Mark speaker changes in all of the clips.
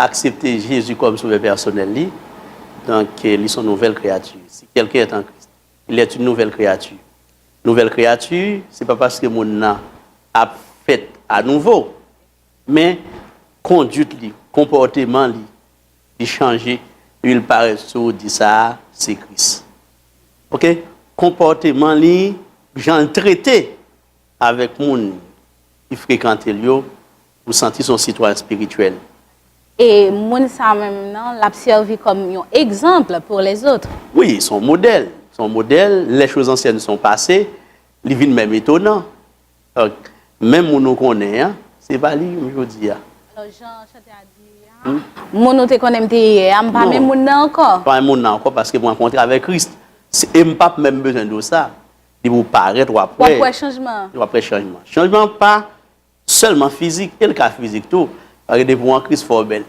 Speaker 1: aksepte Jezi kòm Sovè pèsonèl li, donk li son nouvèl kreyati. Si kèlken èt an Kris, il èt in nouvèl kreyati. Nouvèl kreyati, se pa paske moun nan ap fèt anouvo, men konduit li, konpòteman li, li chanje, epi li parèt sou ou, di sa a se Kris. Ok? Konpòteman li, jan li trete avèk moun ki frekante l yo, M santi son sitwayen spirituel. E
Speaker 2: moun sa menm nan lap sèvi kòm yon exemple pour les autres. Wi, son modèl,
Speaker 1: son modèl, les choses anciennes sont passées, li vin menm etonan. Donk, menm moun ou konnen an, se pa li menm jodi a. Alò jan chantè a
Speaker 2: di li a, moun ou te konnen m te yè a, m pa menm moun nan ankò. M pa menm moun nan ankò paske
Speaker 1: m rankontre avèk Kris. E m pap menm bezwen di w sa, depi w parèt wap wè. Wap wè chanjman an. Wap
Speaker 2: wè chanjman an.
Speaker 1: Chanjman an pa Sèlman fizik, e l ka fizik tou. Paske depi w an kriz fò w bèl.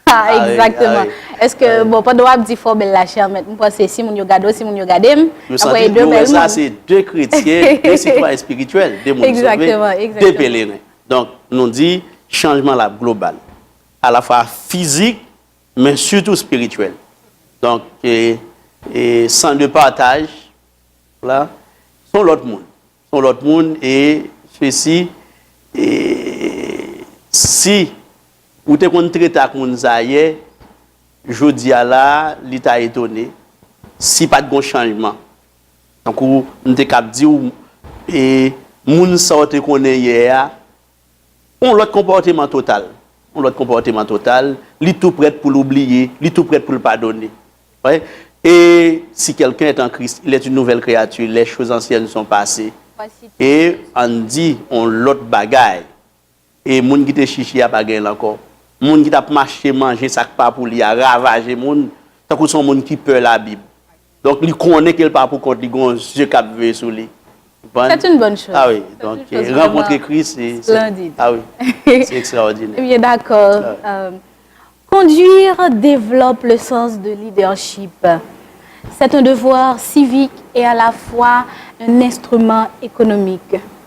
Speaker 1: Ha, egzakteman.
Speaker 2: Eske, bon, pandan w ap di fò w bèl la, chè mèt, m panse si moun yo gade w, si moun yo gade m, y ap wè de bèl moun.
Speaker 1: Se de kretyen, de sitwayen espirityèl, de moun sove, de peleren. Donk, nou di, chanjman la ap global. A la fwa fizik, men sitou espirityèl. Donk, e san de pataj, la, son lòt moun. Yon lòt moun e fesi e si ou te konn trete ak moun sa yè jodi a la li ta etone si pat gon chanjman tankou m te kab diw e moun sa w te konnen yè a On lòt konpòteman total. On lòt konpòteman total, li tou prèt pou l oubliye, li tou prèt pou l padone. Wè? E si kèlken èt an Kris, il èt in nouvèl kreyati, lè choz ansyèn son pase, e, ann di, on lòt bagay, e moun ki te chichi a pa gen l ankò. Moun ki t ap mache manje sa k pa pou li a ravaje moun, tankou s on moun ki pè Labib. Donk li konnen ke l pa pou kont li, gen yon zye k ap veye sou li. Ou konprann? C'est une bonne
Speaker 2: chose. A wi, donk
Speaker 1: rankontre Kris se. Splendide. A wi, se ekstraòdinè. Eh bien, d'accord.
Speaker 2: Conduire développe le sens de leadership. C'est un devoir civique et à la fois un instrument économique.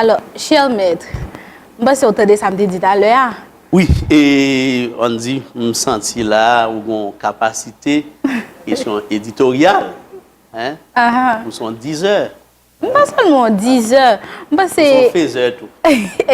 Speaker 2: Alò, cher maître, m panse ou tande sa m te di talè a. Wi, e,
Speaker 1: ann di, m santi la a ou gen yon kapasite kesyon editoryal, hein, ou s on dizè. M pa sèlman yon
Speaker 2: dizè, m panse. Ou s on fezè
Speaker 1: tou.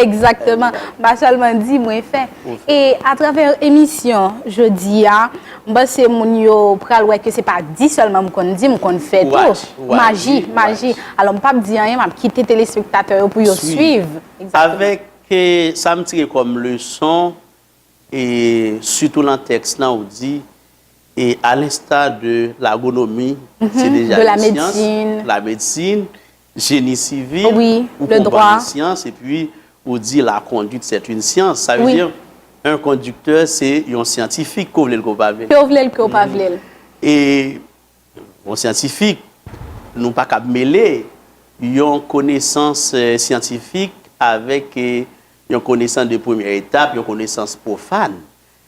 Speaker 1: Exactement,
Speaker 2: m pa sèlman di, mwen fè. E, atravè emisyon jodi a. M panse moun yo pral wè ke se pa di sèlman m konn di, m konn fè tou. Watch, watch. Maji, maji. Alò m pap di anyen, m ap kite telespektatè yo pou yo swiv. Avèk
Speaker 1: sa m tire kòm leson, e sitou nan tèks lan ou di, e alensta de lagonomi, se deja yon syans, lamedsin, Jeni sivil, ou konprann
Speaker 2: yon syans, epi
Speaker 1: ou di la kondwit sèt yn syans, sa vle di yn kondiktè se yon syantifik ke w vle l ke w pa vle l. Ke w vle l ke w pa vle l. E yon syantifik, nou pa kab mele yon konesans syantifik avèk yon konesans de premyè etap, yon konesans pwofàn.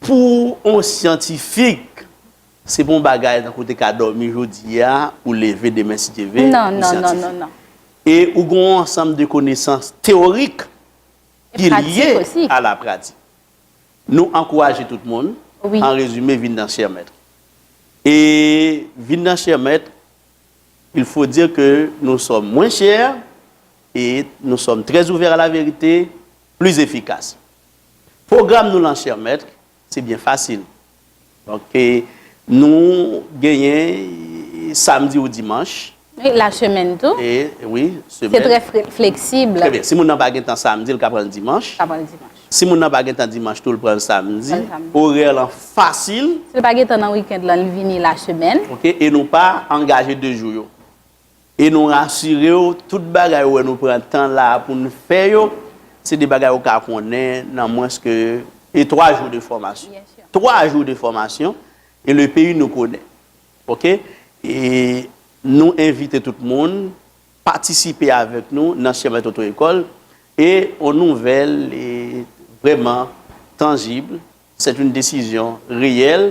Speaker 1: Pou on syantifik, se pa on bagay tankou w te ka dòmi jodi a, ou leve demen si Dye ve, ou syantifik.
Speaker 2: E
Speaker 1: ou gen on ansanm de konesans teyorik ki lye a la pratik. Nou ankouraje tout moun, an rezime, vin
Speaker 2: nan Chè
Speaker 1: Mèt. E vin nan Chè Mèt, il faut dire que nous sommes moins chers et nous sommes très ouverts à la vérité, plus efficaces. Pwogram nou lan chè mèt, se byen fasil. Donk, nou genyen samdi ou dimanch. Wi, la semèn
Speaker 2: tou. E, wi,
Speaker 1: semèn. Se trè
Speaker 2: fleksib. Trè byen. Si moun nan pa gen
Speaker 1: tan samdi, l ka pran l dimanch. Ka pran l dimanch. Si moun nan pa gen tan dimanch tou, l pran l samdi. Pran l samdi. Orè lan fasil. Si l pa gen tan nan
Speaker 2: wikènd lan, l vini la semèn. Ok. E nou pa
Speaker 1: angaje de jou yo. E nou rasire w, tout bagay ou wè nou pran tan la a pou n fè yo, se de bagay ou ka konnen nan mwens ke e 3 jou de fòmasyon. 3 jou de fòmasyon e le peyi nou konnen. Ok? E nou envite tout moun patisipe avèk nou nan Sèmèt Oto Ekòl e on nouvèl e vrèman tanjib, sèt oun desizyon reyèl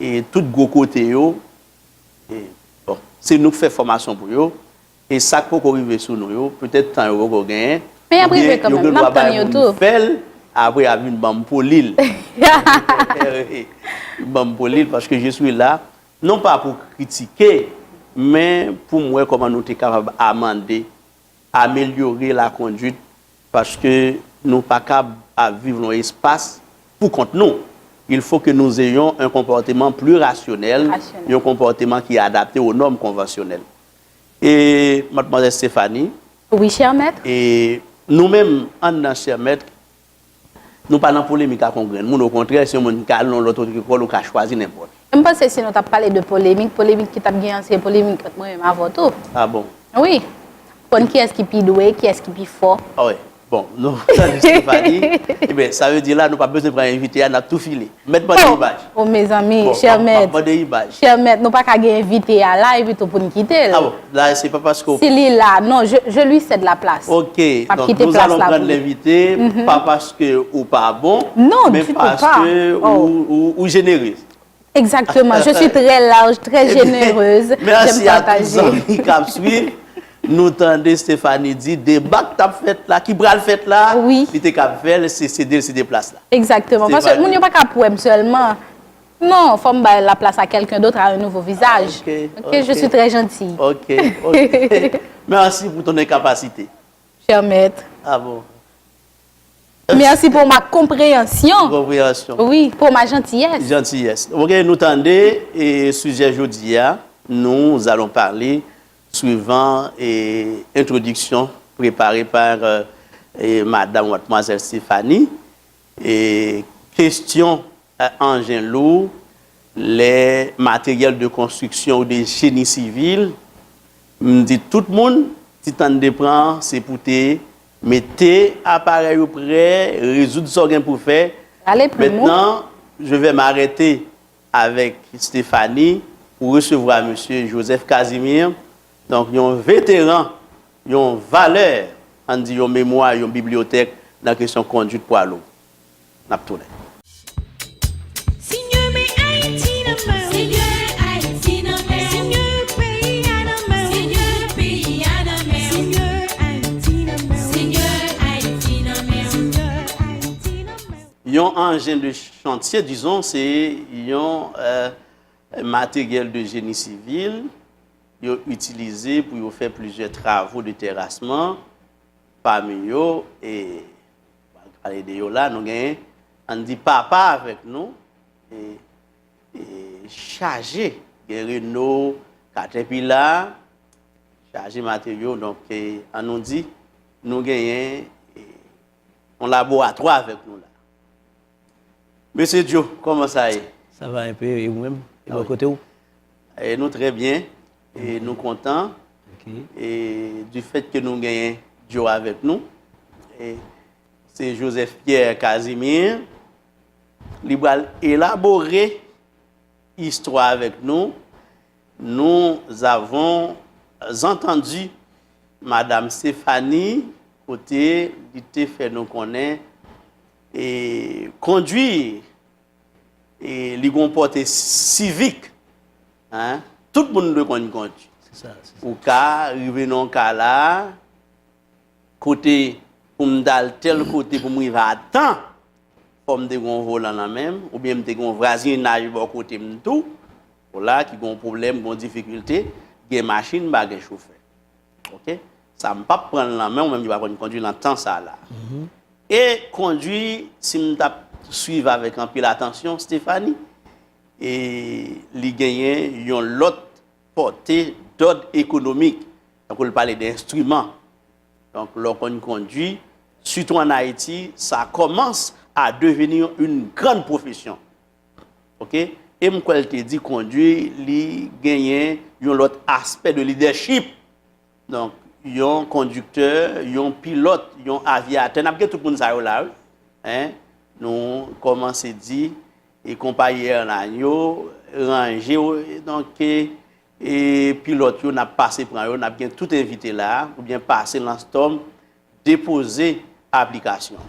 Speaker 1: e tout gwo kote yo e bon se nou k fè fòmasyon pou yo e sak poko rive sou nou yo petèt tan yo poko genyen oubyen yo gen
Speaker 2: dwa bay moun fèl apre yap
Speaker 1: vin banm polil banm polil paske je swi la non pa pou kritike men poum wè kòman nou te kapab amande amelyore lakonduit paske nou pa kab ap viv nan yon espas pou kont nou. Il fo ke nou ze yon yon konpòteman pli rasyonèl, yon konpòteman ki adapte o nòm konvansyonèl. E, Madmwazèl Stéphanie. Wi, chè mèt.
Speaker 2: E, nou
Speaker 1: menm, anndan chè mèt, Nou pa nan polemik ak yon grenn moun, okontrè, si yon moun ka al nan yon lòt otrikòl, ou ka chwazi nenpòt. E m panse si nou t ap
Speaker 2: pale de polemik, polemik ki t ap gen an se polemik ant mwen menm avè w tou. A bon? Wi. Konn kiyès ki pi dwe, kiyès ki pi fò. A wi. Bon,
Speaker 1: nou tande Stéphanie. Eben, sa vle di la nou pa bezwen pran envite a, n ap tou file. Mèt mande imaj. Oh mezanmi,
Speaker 2: chè mèt. Map mande
Speaker 1: imaj.
Speaker 2: Chè mèt, nou pa ka gen envite a la epi tou pou n kite l. A bon, la se pa
Speaker 1: paske ou. Si li la, non,
Speaker 2: je lui cède la place. Ok, donk nous
Speaker 1: allons prendre l'invite, pa paske ou pa bon. Non, du tout pas. Men
Speaker 2: paske
Speaker 1: ou jenereuse. Exactement,
Speaker 2: je suis très large, très généreuse. Merci à tous
Speaker 1: zanmi kap swiv. Nou tande Stéphanie di deba k tap fèt la, ki pral fèt la, li te kab fè
Speaker 2: l se
Speaker 1: sede l sede plas la. Exactement. Paske moun yo
Speaker 2: pa kab wè m sèlman. Non, fò m bay la plas a quelqu'un d'autre, à un nouveau visage. Ok, je suis très gentille. Ok, ok.
Speaker 1: Merci pou ton incapacité. Cher
Speaker 2: maître. Ah bon. Merci pour ma comprehension. Comprehension. Oui,
Speaker 1: pour ma
Speaker 2: gentillesse. Gentillesse. Ok,
Speaker 1: nou tande, sujet jodi a, nous allons parler. Suivan entwodiksyon prepare pa Madam Watmwazèl Stéphanie, kestyon anjen lou, lè materyèl de konstriksyon ou de jeni sivil, m di tout moun, ti tan n te pran an, se pou te mete aparèy ou prè, rezoud sa w gen pou fè. Mètnan, je vè m arète avèk Stéphanie pou resevwa Mesye Joseph Casimir, donk yon veteran, yon valè, ann di yon memwa, yon bibliyotèk nan kesyon konduit pwa lou. N ap tounen. Yon anjen de chantye, dizon, se yon materyèl de jeni sivil yo itilize pou yo fè plizyè travo de terasman, pami yo, e pa ka pale de yo la, nou gen, an n di papa avèk nou, e chaje, gen reno, katèpila, chaje materyo, donk an nou di nou genyen yon laboratwa avèk nou la. Mesye Djo, kòman sa ye? Sa va enpe, e ou
Speaker 3: menm? E bò kote ou? E nou
Speaker 1: trè byen, e nou kontan, e
Speaker 3: di
Speaker 1: fèt ke nou genyen Djo avèk nou, e se Joseph Pierre Casimir, li bal elabore istwa avèk nou. Nous avons entendu Madame Stéphanie kote li te fè nou konnen e kondwi e li gon pòte sivik hein tout moun dwe konn kondwi ou
Speaker 3: ka
Speaker 1: rive nan yon ka la a kote pou m ta al tèl kote pou m rive a tan. Fò m te gen yon volan nan men m, oubyen m te gen yon vwazinaj bò kote m tou, hola, ki gen yon pwoblèm, gen yon difikilte, gen machin, pa gen chofè. Ok? Sa m pap pran l nan men w, menm yo pa konn kondwi nan tan sa la. E kondwi, si m t ap swiv avèk anpil atansyon Stéphanie, e li genyen yon lòt pòte dòd ekonomik, tankou l pale de enstriman. Donk lè w konn kondwi, sitou an Ayiti, sa kòmans a deveni yon gran pwofesyon. Ok? E m kwè l te di kondwi li genyen yon lòt aspè de lidèchip. Donk, yon kondiktè, yon pilòt, yon avyatè, n ap gen tout moun sa yo la wi. Hein? Nou kòmanse di e konpayi èlayn yo ranje w donk e E pi lòt yo nap pase pran yo, nap gen tout envite la a, ou byen pase lan Storm depoze aplikasyon.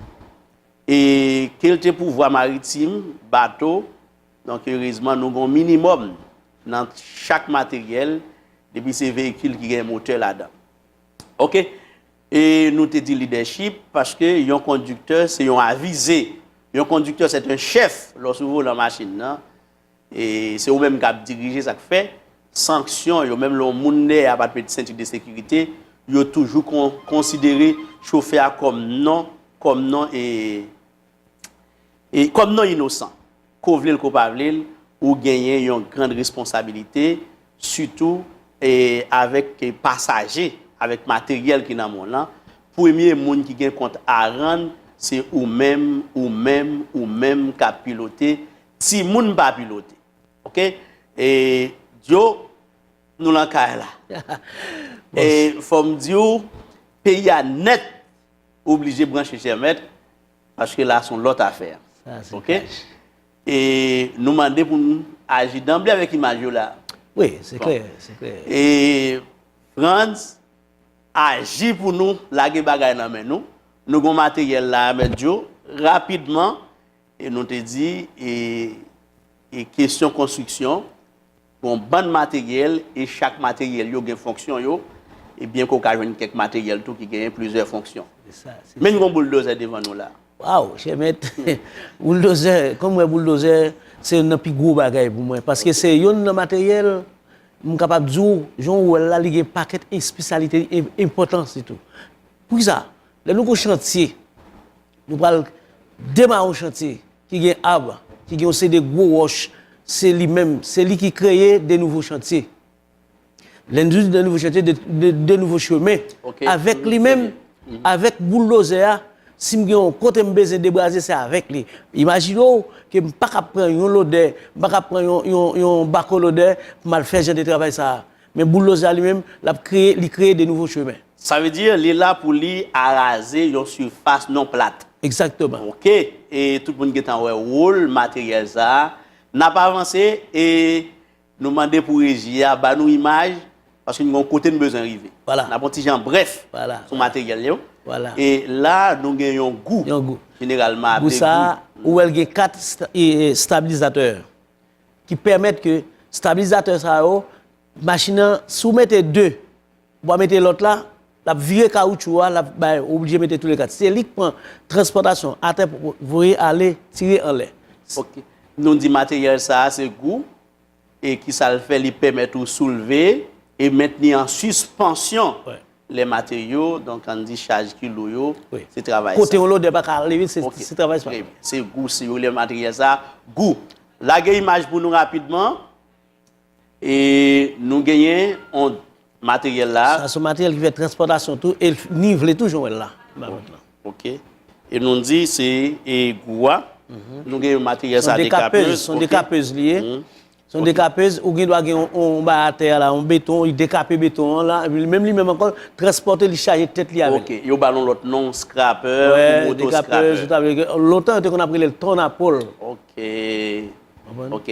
Speaker 1: E kelte pouvwa maritim, bato, donk erezman nou gen yon minimòm nan chak materyèl, depi se veyikil ki gen motè ladan. Ok. E nou te di lidèchip, paske yon kondiktè se yon avize. Yon kondiktè sèt yon chèf lò sou volan machin nan. E se ou menm kap dirije sak fè sanksyon yo menm lè yon moun dèyè a pat met senti de sekirite yo toujou konsidere chofè a kòm non kòm non e e kòm non inosan ko vlel ko pa vlel ou genyen yon grand responsabilite sitou e avèk pasaje avèk materyèl ki nan men w lan premye moun ki gen kont a rann se ou menm ou menm ou menm kap pilote Timoun pa pilote ok e djo nou lan kay la e fòm diw peyi a nèt ou oblije branche chè mèt paske la son lòt afè ok e nou mande pou nou aji danble avèk imaj yo la wi se klè
Speaker 3: se klè e
Speaker 1: Frantz aji pou nou lage bagay nan men nou nou gon materyèl la mèt djo rapidman E nou te di, e, e kesyon konstriksyon, gon bann materyèl, e chak materyèl yo gen fonksyon yo, e byen ke w ka jwenn kèk materyèl tou ki genyen plizyè fonksyon. Se sa, se sa. Menm gon bouldozè devan nou la. Waw, chè mèt,
Speaker 3: bouldozè, kòm wè bouldozè, se youn nan pi gwo bagay pou mwen, paske se youn nan materyèl, m kapab di w, jan w wè l la, li gen pakèt espesyalite li, e enpòtans li tou. Poukisa? Lè nou gon chantye, Nou pral demare yon chantye ki gen ab, ki gen yon seri de gwo wòch, se li menm, se li ki kreye de nouvo chantye. Lè nou di de nouvo chantye, de nouvo chemen, avèk li menm, avèk bouldozè a, si m gen yon kote m bezwen debraze, se avèk li. Imajine w ke m pa ka pran yon lodè, m pa ka pran yon bako lodè pou m al fè jan de travay sa a. Men Boulos la li menm, l ap kreye, li kreye de nouvo chemen. Sa vle di, li la
Speaker 1: pou li araze yon sifas non plat. Egzakteman. Ok. E tout moun gentan wè wol materyèl sa a. N ap avanse e nou mande pou reji a ba nou imaj, paske n gen yon kote n bezwen rive. Vwala. N ap yon ti jan brèf sou materyèl
Speaker 3: yo.
Speaker 1: Vwala. E
Speaker 3: la a, nou
Speaker 1: gen yon gou. Yon gou. Jeneralman
Speaker 3: aple gou. Gou sa a,
Speaker 1: ou
Speaker 3: wè l gen kat estabilizatè. ki pèmèt ke stabilizatè sa yo, machin nan, si w mete 2, ou pa mete lòt la, l ap vire kawoutchou a, l ap bay, ou oblije mete tou le 4. Se li k pran transpòtasyon atè pou voye ale, tire anlè. Ok. Nou
Speaker 1: di materyèl sa a se gou, e ki sa l fè? Li pèmèt ou soulve
Speaker 3: e
Speaker 1: mentni an sispansyon Lè materyo, donk ann di chaj ki lou yo, se travay sa. Kote
Speaker 3: yon lodè
Speaker 1: pa ka ale
Speaker 3: vit, se travay sa.
Speaker 1: Se
Speaker 3: gou, si
Speaker 1: yo rele materyèl sa a gou. Lage imaj pou nou rapidman. E nou genyen yon materyèl la. Sa se materyèl ki fè
Speaker 3: transpòtasyon tou e nivle tou jan w wè l la. Ok.
Speaker 1: E nou di se gou a. Nou gen yon materyèl sa dekapèz. Son dekapèz
Speaker 3: li ye. Se yon dekapez, ou gen dwa gen yon bagay atè a la, yon beton, li dekape beton an la, epi menm li menm ankò, l transpòte, li chaje tèt li avè l. Ok, yo ba l yon lòt non,
Speaker 1: skrapè, oubyen oto skrapè. Dekapez,
Speaker 3: sa
Speaker 1: vle di,
Speaker 3: lontan yo te konn ap rele l tòn a pòl. Ok.
Speaker 1: Konprann? Ok.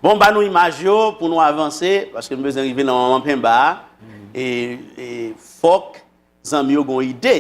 Speaker 1: Bon, ba nou imaj yo pou nou avanse, paske m bezwen rive nan manman penba a. E, e, fòk. Zanmi yo gon ide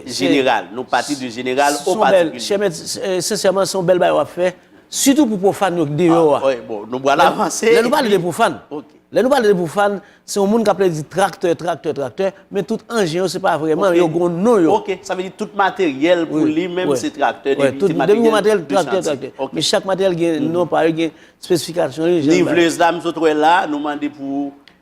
Speaker 1: jeneral. Nou pati de jeneral o patikilye. Chè mèt, sensèman, se yon
Speaker 3: bèl bagay w ap fè, sitou pou pwofàn yo k deyò a. Nou pral
Speaker 1: avanse. Lè nou pale de pwofàn,
Speaker 3: lè nou pale de
Speaker 1: pwofàn,
Speaker 3: se yon moun k ape di traktè, traktè, traktè, men tout anjen yo se pa vrèman, yo gon non yo. Ok, sa vle di tout
Speaker 1: materyèl pou li menm se traktè, depi se materyèl
Speaker 3: de chantye. Men chak materyèl gen non pa yo, gen spesifikasyon yo. Nivelez la m
Speaker 1: sot wè la, nou mande pou.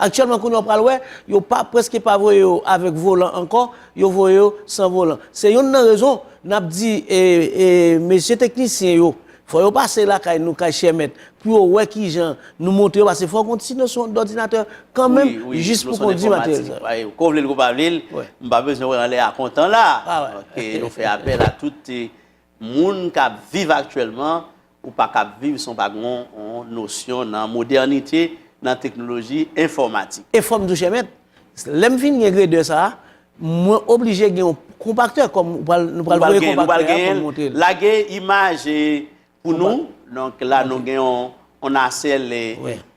Speaker 3: Aktyèlman kounye a w pral wè, yo pa prèske pa voye yo avèk volan ankò, yo voye yo san volan. Se yonn nan rezon n ap di mesye teknisyen yo, fò yo pase lakay nou, kay chè mèt, pou yo wè ki jan nou monte yo, pase fò w konn ti nosyon dòdinatè kan menm, jis pou kondi materyèl sa yo. Ko vle l ko pa
Speaker 1: vle l, m pa bezwen wè anlè a kontan la, yo fè apèl a tout moun k ap viv aktyèlman ou pa k ap viv san w pa gen yon nosyon nan modènite, nan teknoloji enfòmatik. E fò m di w, chè mèt,
Speaker 3: lè m fin gen gredè sa a, mwen oblije gen yon konpaktè kòm nou pral voye konpaktè a pou m montre l. Lage imaj
Speaker 1: pou nou. Donk la nou gen yon nasèl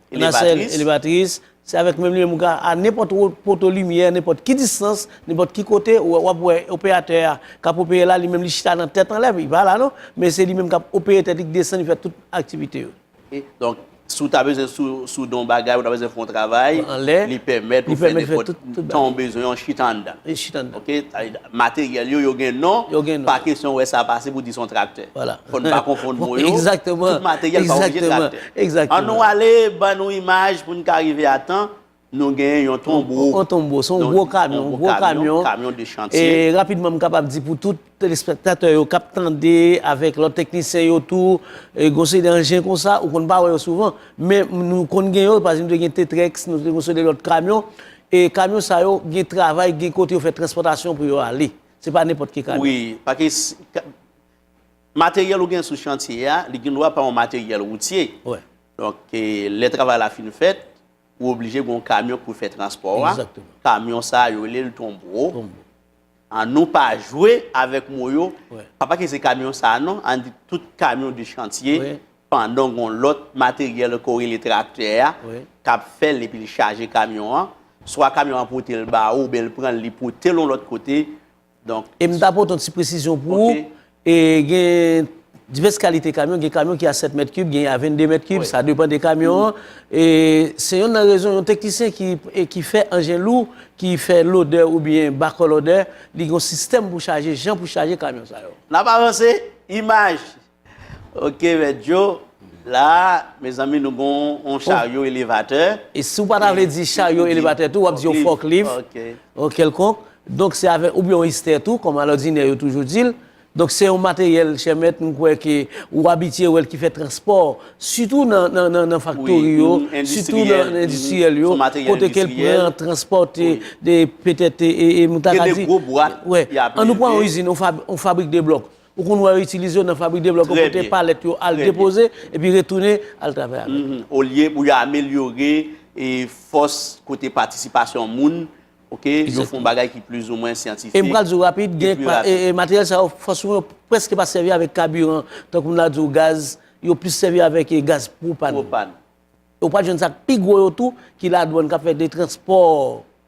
Speaker 1: elevatris. Se avèk menm limyè m ka a nenpòt wot poto limyè, nenpòt ki distans, nenpòt ki kote, ou wè wap wè operatè a kap opere la li menm li chita nan tèt anlè li pa la non, men se li menm kap opere tèt li k desann li fè tout aktivite yo. Ok donk si w ta bezwen sou sou don bagay ou ta bezwen fè yon travay anlè li pèmèt ou fè nenpòt tan ou bezwen an chita anndan li chita anndan ok materyèl yo yo gen non yo gen non pa kesyon wè sa pase pou di son traktè fò n pa konfonn
Speaker 3: mo
Speaker 1: yo egzakteman tout materyèl
Speaker 3: pa oblije
Speaker 1: traktè. An nou ale
Speaker 3: ban
Speaker 1: nou imaj pou n ka rive a tan, nou gen yon tonbo, yon tonbo se yon gwo
Speaker 3: kamyon, yon gwo kamyon, kamyon de
Speaker 1: chantye. E rapidman m kapab
Speaker 3: di pou tout telespektatè yo k ap tande avèk lòt teknisyen yo tou, gen yon seri de anjen konsa ou konn pa wè yo souvan men nou konn gen yo, pa ekzanp nou te gen T-Trex, nou te gen yon seri de lòt kamyon e kamyon sa yo gen travay, gen kote yo fè transpòtasyon pou yo ale se pa nenpòt ki kamyon. Wi, pake
Speaker 1: Materyèl ou gen sou chantye a, li gen dwa pa yon materyèl woutye. Donk, lè travay la fin fèt, ou oblije gen yon kamyon ki pou fè transpò a. Kamyon
Speaker 3: sa a, yo rele
Speaker 1: l tonbo. An nou pa jwe avèk mo yo. Pa pale se kamyon sa a non. An di tout kamyon de chantye. Pandan gen yon lòt materyèl ke w rele traktè a, k ap fè l epi l chaje kamyon an. Swa kamyon an pote l ba ou oubyen l pran l, li pote l yon lòt kote. E m ta pote yon ti
Speaker 3: presizyon pou ou, gen divès kalite kamyon, gen kamyon ki a 7 mèt kib, gen a 22 mèt kib, sa depan de kamyon an. E se yon nan rezon yon teknisyen ki fè anjen lou, ki fè lodè ou byen bakò lodè, li gen yon sistèm pou chaje, jan pou chaje kamyon sa yo. N ap avanse,
Speaker 1: imaj Ok mèt djo, la mezanmi nou gon yon charyo elevatè. E si w pa ta vle
Speaker 3: di charyo elevatè tou, w ap di yon fòklif, yon kèlkonk, donk se avèk, oubyen yon istè tou, kòm alòdinè yo toujou di l. Donk se yon materyèl, chè mèt, m kwè ke ou abitye wè l ki fè transpò, sitou nan faktori yo, sitou nan endistriyèl yo, kote ke l pran, transpòte, petèt, e m ta ka di,
Speaker 1: an nou pran yon
Speaker 3: izin, yon fabrik de blòk. Ou konn wè yo itilize yo nan fabrik de blòk yo pou te palèt yo al depoze epi retounen al travay avèk yo. Olye pou yo
Speaker 1: amelyore fòs kote patisipasyon moun, ok, yo fon bagay ki plizoumwen syantifik. E m pral di w rapid, gen
Speaker 3: materyèl sa yo fòs moun yo prèske pa sèvi avèk kabiran, tankou m ta di w gaz, yo plis sèvi avèk gaz pwopàn. Pwopàn. Ou pral jwenn sa k pi gwo yo tou ki ladwàn k ap fè de transpò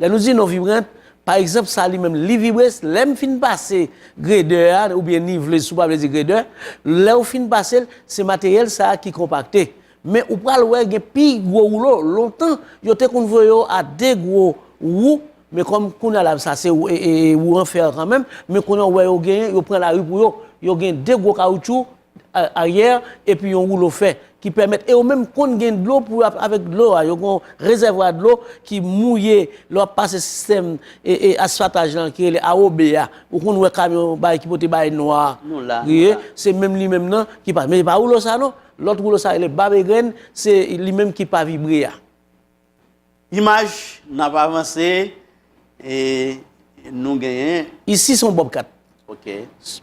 Speaker 3: Lè nou di non vibrant, pa egzanp sa li menm li vibre, lè m fin pase gredè a oubyen niveleuse sou pa vle di gredè, lè ou fin pase l, se materyèl sa ki konpakte. Men ou pral wè gen pi gwo woulo, lontan yo te konn voye yo a 2 gwo wou, men kòm kounya la sa se wou an fè an kanmenm, men kounya ou wè yo genyen, yo pran lari pou yo, yo gen 2 gwo kawoutchou, aryè epi yon woulo fè ki pèmèt e yo menm konn gen dlo pou yo ap avèk dlo a yo gen yon rezèvwa dlo ki mouye lè wap pase sistèm asfataj lan ki rele awobe a ou konn wè kamyon bay ki pote bay nwa ye se menm li menm nan ki pase men se pa woulo sa non lòt woulo sa rele bab egrenn se li menm ki pa vibre a. Imaj,
Speaker 1: N ap avanse e nou genyen. Isi se yon bòbkat.
Speaker 3: Ok.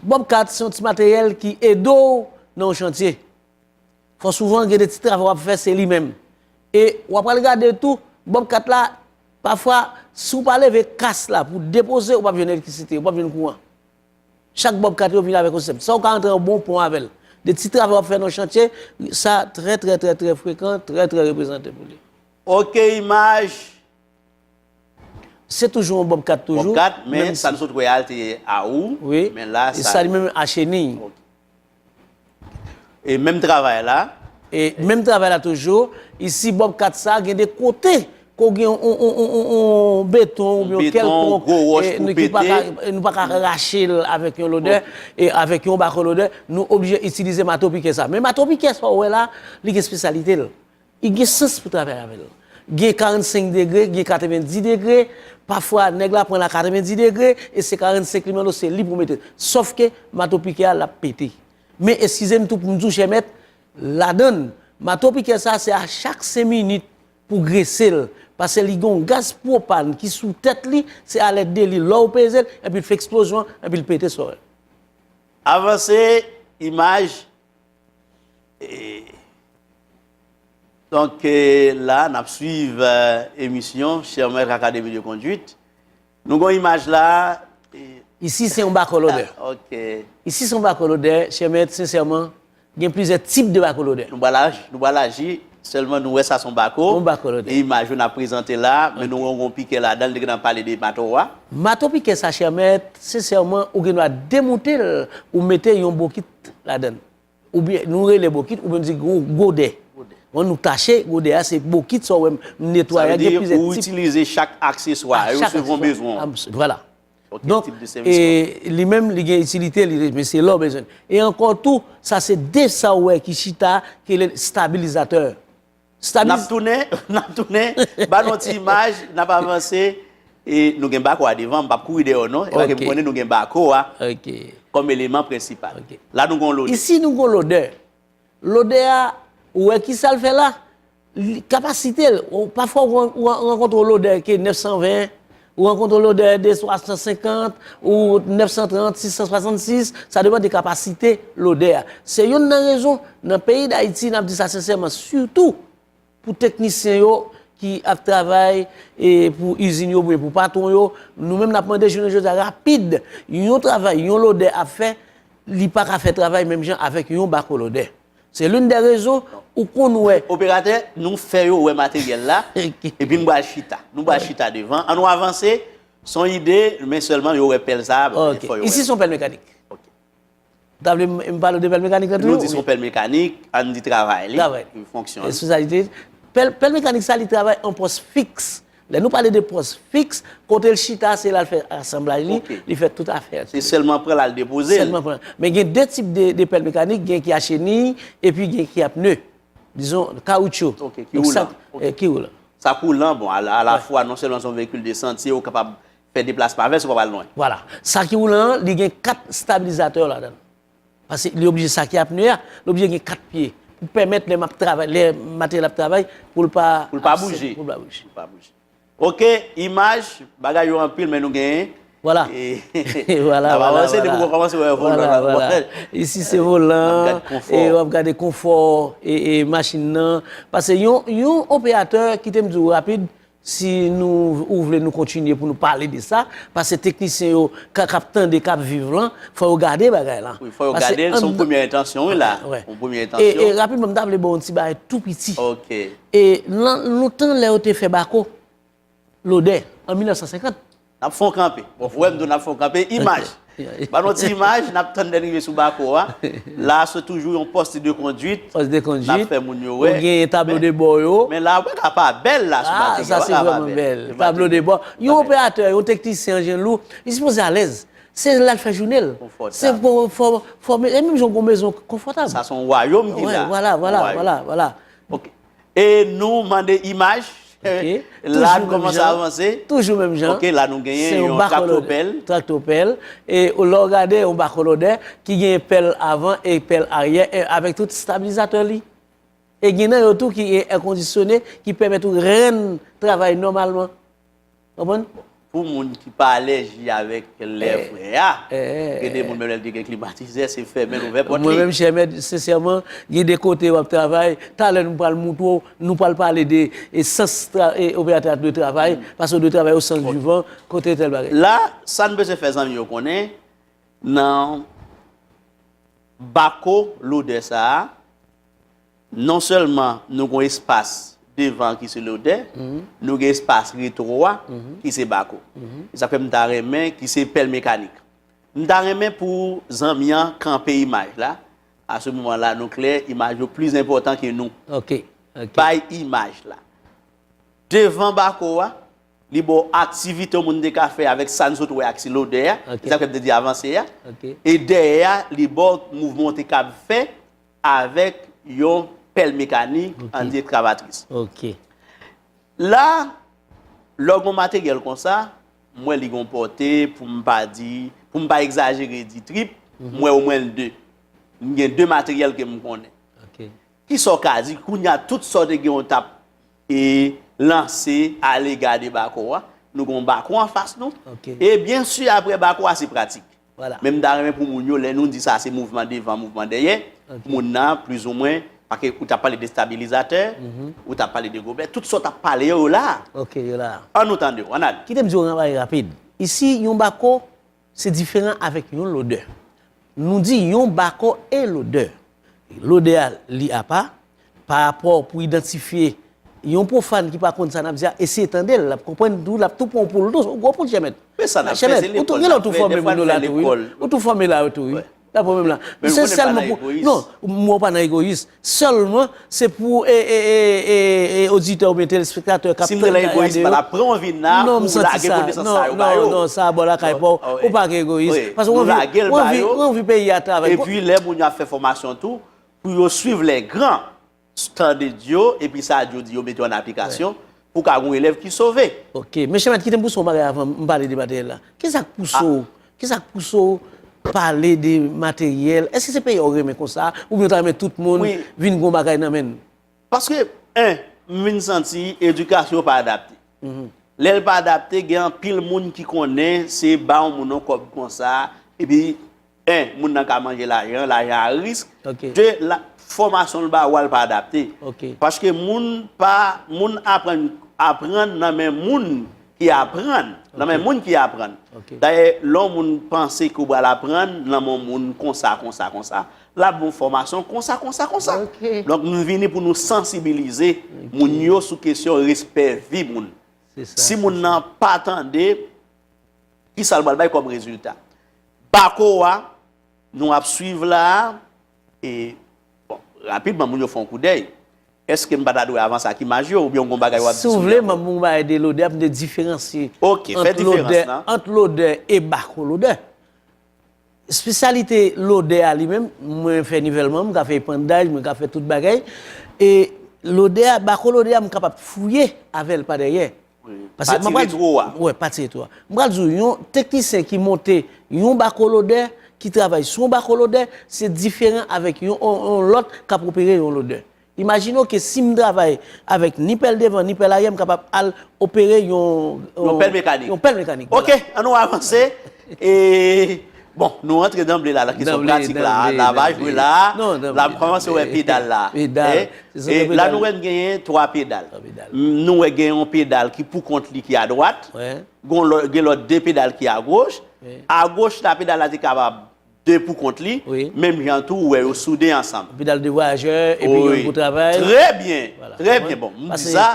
Speaker 1: Bòbkat
Speaker 3: se yon ti materyèl ki ede w nan yon chantye. Fò souvan gen de ti travay w ap fè se li menm. E w apral gade tou, bòbkat la, pafwa si w pa leve kas la pou depoze, ou p ap jwenn elektrisite, ou p ap jwenn kouran. Chak bob kat yo vin avèk yon sistèm sa ou ka antre an bon pon avèl de ti travay wap fè nan chantye sa trè trè trè trè frekan trè trè reprezante pou li. Ok
Speaker 1: imaj.
Speaker 3: Se toujou yon bob kat toujou. Bob kat men sa nou sot
Speaker 1: wè a te a ou men la sa. Sa
Speaker 3: li menm
Speaker 1: a cheniy. E menm travay la. E menm travay
Speaker 3: la toujou. Isi bò kat sa gen de kote ke w gen yon beton oubyen yon kèlkonk nou pa ka rache l avèk yon lodè, avèk yon bako lodè, nou oblije itilize mato pikè sa. Men mato pikè sa w wè la, li gen spesyalite l. I gen sans pou travay avè l. Gen 45 degre, gen 90 degre, pafwa nèg la pran l a 90 degre e se 45 li mande w se li pou w mete. Sòf ke mato pikè a l ap pete. Men eskize m tou pou m di w chè mèt, ladan l, mato pikè sa a se a chak 5 minit pou w grese l pase li gen yon gaz pwopàn ki sou tèt li, se a lèt de li lè w peze l epi l fè eksplozyon epi l pete sou w. Avanse
Speaker 1: imaj, Donk la n ap swiv emisyon Chè Mèt Akademi de Konduit. Nou gen yon imaj la a. Isi se
Speaker 3: yon bako lodè. Ok. Isi
Speaker 1: se yon bako
Speaker 3: lodè, chè mèt, sensèman, gen plizyè tip de bako lodè. Nou bwa
Speaker 1: laji, sèlman nou wè sa son bako. Yon bako lodè. E imaj yo n ap prezante la a, men nou wè yon gwo pikè ladan l, li gen nan pale de mato a. Mato pikè sa
Speaker 3: chè mèt, sensèman, ou gen dwa demoute l, ou mete yon bokit ladann. Oubyen nou rele bokit oubyen m di gwo gode. Wè nou tache gode a se bokit sa w wè m netwaye a gen plizyè tip. Sa vle di ou itilize
Speaker 1: chak akseswa yo selon bezwen w. Vwala.
Speaker 3: Donk li menm li gen itilite li men se lè w bezwen l. E ankò tou sa se de sa w wè ki chita ki rele stabilizatè. Nap
Speaker 1: tounen, nap tounen, ba nou ti imaj, nap avanse, e nou gen bako a devan, m pap kouri dèyè w non, e paske m konnen nou gen bako a kòm eleman prensipal. La nou gen yon lodè. Isi nou gen yon lodè.
Speaker 3: Lodè a, ou wè ki sa l fè la? Kapasite l, pafwa ou rankontre yon lodè ki 920, Ou rankontre lodè de 350 ou 930, 666, sa depan de kapasite lodè a. Se yonn nan rezon, nan peyi Dayiti, n ap di sa sensèman, sitou pou teknisyen yo ki ap travay pou izin yo oubyen pou patwon yo, nou menm n ap mande jounen jodi a rapid. Yon travay, yon lodè ap fè, li pa ka fè travay menm jan avèk yon bakolodè. Se l'une des raisons ou konn wè. Operatè, nou fè
Speaker 1: yo wè materyèl la, epi m pral chita. Nou pral chita devan. An nou avanse, son ide, men sèlman yo wè pèl sa a, fò yo wè l. Ok, isi son pèl
Speaker 3: mekanik. Ok. Ou ta vle m pale w de pèl mekanik la toujou? Nou di son pèl mekanik,
Speaker 1: an n di travay li, yon fonksyon. Espesyalite.
Speaker 3: Pèl mekanik sa li travay an pòs fiks. Lè nou pale de pòs fiks, kote l chita se la l fè asanblaj li, li fè tout afè l. Se sèlman pran l al depoze
Speaker 1: l. Sèlman pran l. Men gen de
Speaker 3: tip de pèl mekanik, gen ki a cheniy epi gen ki a pne. Dizon kawoutchou. Ok, ki woulan.
Speaker 1: Ki woulan.
Speaker 3: Sa k woulan, bon,
Speaker 1: alafwa non sèlman se yon veyikil de santye ou kapab fè deplasman avè l si w pa pral lwen. Vwala. Sa ki woulan
Speaker 3: an, li gen kat stabilizatè ladan l. Paske li oblije sake apne a, li oblije gen 4 pye pou pèmèt lè map travay, lè materyèl ap travay poul pa absèt, poul pa bouje.
Speaker 1: Ok,
Speaker 3: imaj,
Speaker 1: bagay yo anpil men nou gen. Vwala, vwala, vwala,
Speaker 3: vwala,
Speaker 1: vwala.
Speaker 3: Isi
Speaker 1: se
Speaker 3: volan, e wap gade konfò e machin nan. Paske yon operatè, kitem di ou rapid, Si nou ou vle nou kontinye pou nou pale de sa, pase teknisyen yo ka kap tande kap viv lan, fò yo gade bagay lan. Wi fò yo gade l, se yon
Speaker 1: premyè entansyon wi la, yon premyè entansyon. E rapidman m ta vle ba w
Speaker 3: yon ti bagay tou piti. Ok. E
Speaker 1: nan
Speaker 3: lontan lè yo te fè bako lodè an 1950. N ap fè yon kanpe.
Speaker 1: Bon, wè m tou n ap fè yon kanpe. Imaj. Ba nou yon ti imaj. N ap tann lè n rive sou Bako a. La a se toujou yon poste de konduit. Poste de konduit. N ap fè
Speaker 3: moun yo wè. Ou genyen
Speaker 1: tablo de
Speaker 3: bò yo. Men la a, ou pa ka pa
Speaker 1: bèl la sou Batega. A, sa se vreman
Speaker 3: bèl. Tablo de bò. Yon operatè, yon teknisyen an jen lou, li sipoze alèz. Se la l fè jounen l. Konfòtab. Se pou, fò, e menm jan ou gen yon mezon konfòtab. Sa se yon wayom ki la.
Speaker 1: Wè, wala, wala, wala, wala.
Speaker 3: Ok.
Speaker 1: E nou mande imaj. Ok.
Speaker 3: La n kòmanse
Speaker 1: avanse. Toujou menm jan. Ok, la
Speaker 3: nou genyen yon
Speaker 1: trakto pèl. Trakto pèl.
Speaker 3: E lè w gade yon bako lodè ki genyen pèl avan e pèl aryè e avèk tout stabilizatè li. E gen nan yo tou ki gen èkondisyone ki pèmèt ou renn travay nòmalman. Konprann? Pou moun
Speaker 1: ki pa alèji avèk lè frè a, gen de moun menm lè l te gen klimatizè, se fèmen l ouvè pòt li. Mwen menm chè mèt,
Speaker 3: sensèman, gen de kote w ap travay, talè nou pral montre w, nou pral pale de sans operatè a dwe travay, paske w dwe travay o sans du vent, kote tèl bagay. La, sa n bezwen
Speaker 1: fè zanmi yo konnen, nan bako lodè sa a, Non sèlman nou gen espas devan an ki se lodè, nou gen espas retwo a ki se bako. Se sa k fè m ta renmen, ki se pèl mekanik. M ta renmen pou zanmi an kanpe imaj la, a se moman la nou klè imaj yo plis enpòtan ke nou.
Speaker 3: Bay
Speaker 1: imaj la. Devan bako a, li ba w aktivite yon moun te ka fè avèk sa n sot wè a ki se lodè a, se sa k fè m te di avanse a. E dèyè a, li ba w mouvman w te kab fè Avèk yon pèl mekanik, an di ekskavatris. Ok.
Speaker 3: La,
Speaker 1: lè w gen yon materyèl konsa, m wè li gen yon pòte, pou m pa di, pou m pa ekzajere di trip, m wè omwen l 2. M gen 2 materyèl ke m konnen. Ok. Kisa
Speaker 3: w ka
Speaker 1: di, kounye a, tout sa w te gen ou t ap e lanse a lega de bako a, nou gen yon bako anfas nou. Ok. E byensi,
Speaker 3: apre
Speaker 1: bako a, se pratik. Men m ta renmen
Speaker 3: pou moun yo,
Speaker 1: lè nou di sa se mouvman devan, mouvman dèyè, pou moun nan, plizoumwen, pake ou ta pale de stabilizatè, ou ta pale de gobè, tout sa w ta pale yo, yo la a. Ok, yo la a. An
Speaker 3: nou tande w, an n ale.
Speaker 1: Kite m di w yon bagay rapid.
Speaker 3: Isi, yon bako se diferan avèk yon lodè. Nou di yon bako e lodè. Lodè a li apa, Pa rapò pou idantifye Yon pwofàn ki pa konn sa n ap di a, eseye tande l, l ap konprann tou, l ap tou pran w pou l tou, ou gwo poul chèmèt. Men sa
Speaker 1: n ap fè se lekòl n ap fè, dèfwa n
Speaker 3: fè lekòl. Ou tou fòme la tou wi. Nan pwoblèm la. Men ou konnen pa nan egoyis. Non, mwen pa nan egoyis. Sèlman, se pou oditè oubyen telespektatè k ap tande la. Si m te nan egoyis, m pa
Speaker 1: t ap pran w vin la pou w lage konesans sa
Speaker 3: yo ba yo. Non, non, non, sa a bò lakay pa w. Ou pa gen egoyis. Paske w anvi peyi a travay. Epi lè moun yo ap
Speaker 1: fè fòmasyon tou, Pou yo swiv lè gran, tande dyo, epi sa dyo di yo mete an aplikasyon, pou ka gon elèv ki sove. Ok. Men chè mèt kite
Speaker 3: m pouse w yon bagay avan m pale de materyèl la. Ki sa k pouse w, ki sa k pouse w pale de materyèl? Èske se peyi a w renmen konsa, oubyen w ta renmen tout moun vin gon bagay nan men l? Paske,
Speaker 1: 1, m vin santi edikasyon pa adapte. Lè l pa adapte, gen anpil moun ki konnen se ba yon moun yon kòb konsa, epi. 1 moun nan ka manje lajan an, lajan a risk, 2 la fòmasyon l ba ou a l pa adapte, paske moun pa, moun aprann, aprann nan men moun ki aprann, nan men moun ki aprann, dayè lè yon moun panse ke ou pral aprann nan men yon moun konsa, konsa, konsa, l ap ba ou fòmasyon konsa, konsa, konsa, donk nou vini pou nou sansibilize moun yo sou kesyon respè vi moun, si moun nan pa tande. Ki sa l pral bay kòm rezilta? Bako a, nou ap suiv la a, e, bon, rapidman moun yo fè yon koudèy. Èske m pa ta dwe avanse ak imaj yo oubyen w gen yon bagay w ap di sou yo ankò? Si w vle, m ap gen yon bagay
Speaker 3: de lodè pou m te diferansye
Speaker 1: ant lodè e
Speaker 3: bako lodè. Spesyalite lodè a li menm, mwen fè nivèlman, m ka fè epandaj, mwen ka fè tout bagay. E lodè a, bako lodè a m kapab fouye avè l pa dèyè. Pase mwen pral di w. Pati retwo a. Wè, pati retwo a. M pral di w, yon teknisyen ki monte yon bako lodè, ki travay sou yon bako lodè, se diferan avèk yon lòt k ap opere yon lodè. Imajine w ke si m travay avèk ni pèl devan ni pèl aryè m kapab al opere yon Yon pèl
Speaker 1: mekanik Yon pèl mekanik Ok an nou avanse e bon nou antre danble la nan kesyon pratik la a la va jwe la a la m kòmanse wè pedal la e la nou wè n genyen 3 pedal nou wè gen yon pedal ki pou kont li ki adwat gen lòt 2 pedal ki agoch agoch la pedal la te kapab 2 pou kont li, menm jan tou ou wè yo soude ansanm. Epi dal 2 vwayajè,
Speaker 3: epi youn pou travay. Trè byen,
Speaker 1: trè byen bon. M di sa,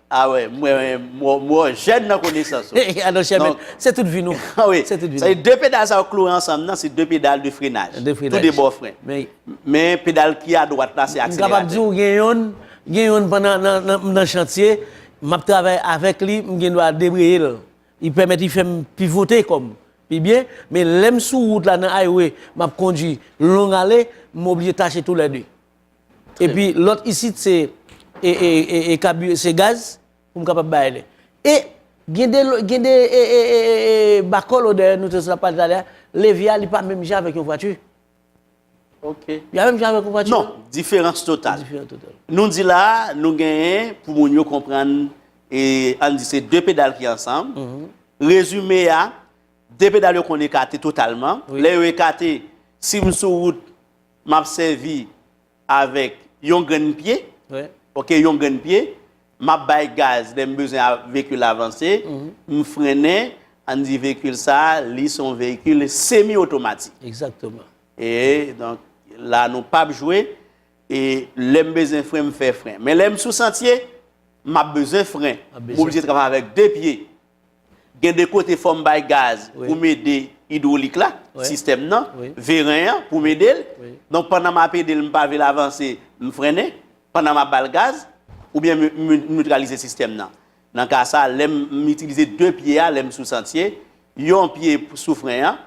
Speaker 1: a wè, m wè, m wè w jèn nan konesans ou. A non chè mèt,
Speaker 3: se tout vi nou. A wi, se tout vi nou. Sa
Speaker 1: di 2 pedal sa yo kloure ansanm nan, se 2 pedal de frenaj. De frenaj. Tou 2 bò fren. Men pedal ki a dwat la se akseleratè. M kapab di ou gen youn,
Speaker 3: gen youn pandan m nan chantye, m ap travay avèk li, m gen dwa debreye l. Li pèmèt li fè m pivote kò m pi byen, men lè m sou wout la nan highway m ap kondwi long ale, m oblije tache tou lè 2. Epi lòt isit se e kabire se gaz pou m kapab bay ale. E gen de gen de e e e e bakòl ou dèyè nou te sot ap pale talè a, levye a li pa menm jan avèk yon vwati.
Speaker 1: Ok. Li a menm jan
Speaker 3: avèk ouvatchou? Non, diferans total.
Speaker 1: Diferans total. Nou di la, nou genyen pou moun yo konprann e an di se 2 pedal ki ansanm. Rezime a, 2 pedal yo konn ekate totalman. Lè yo ekate, si m sou wout, m ap sèvi. avèk yon grenn pye, ok, yon grenn pye, m ap bay gaz lè m bezwen veyikil la vanse, m frennen, ann di veyikil sa a, li se yon veyikil semi otomatik. Egzakteman.
Speaker 3: E, donk,
Speaker 1: la nou pa p jwe, e lè m bezwen fren, m fè fren. Men lè m sou santye, m ap bezwen fren. M oblije travay avèk de pye. Gen de kote fò m bay gaz pou m ede idwolik la, sistèm nan, veren an, pou m ede l. Donk pandan m ap ede l, m pa vle l avanse, m frennen pandan m ap ba l gaz. Oubyen m nitralize sistèm nan. Nan ka sa, lè m itilize de pye a lè m sou santye, yon pye sou fren an.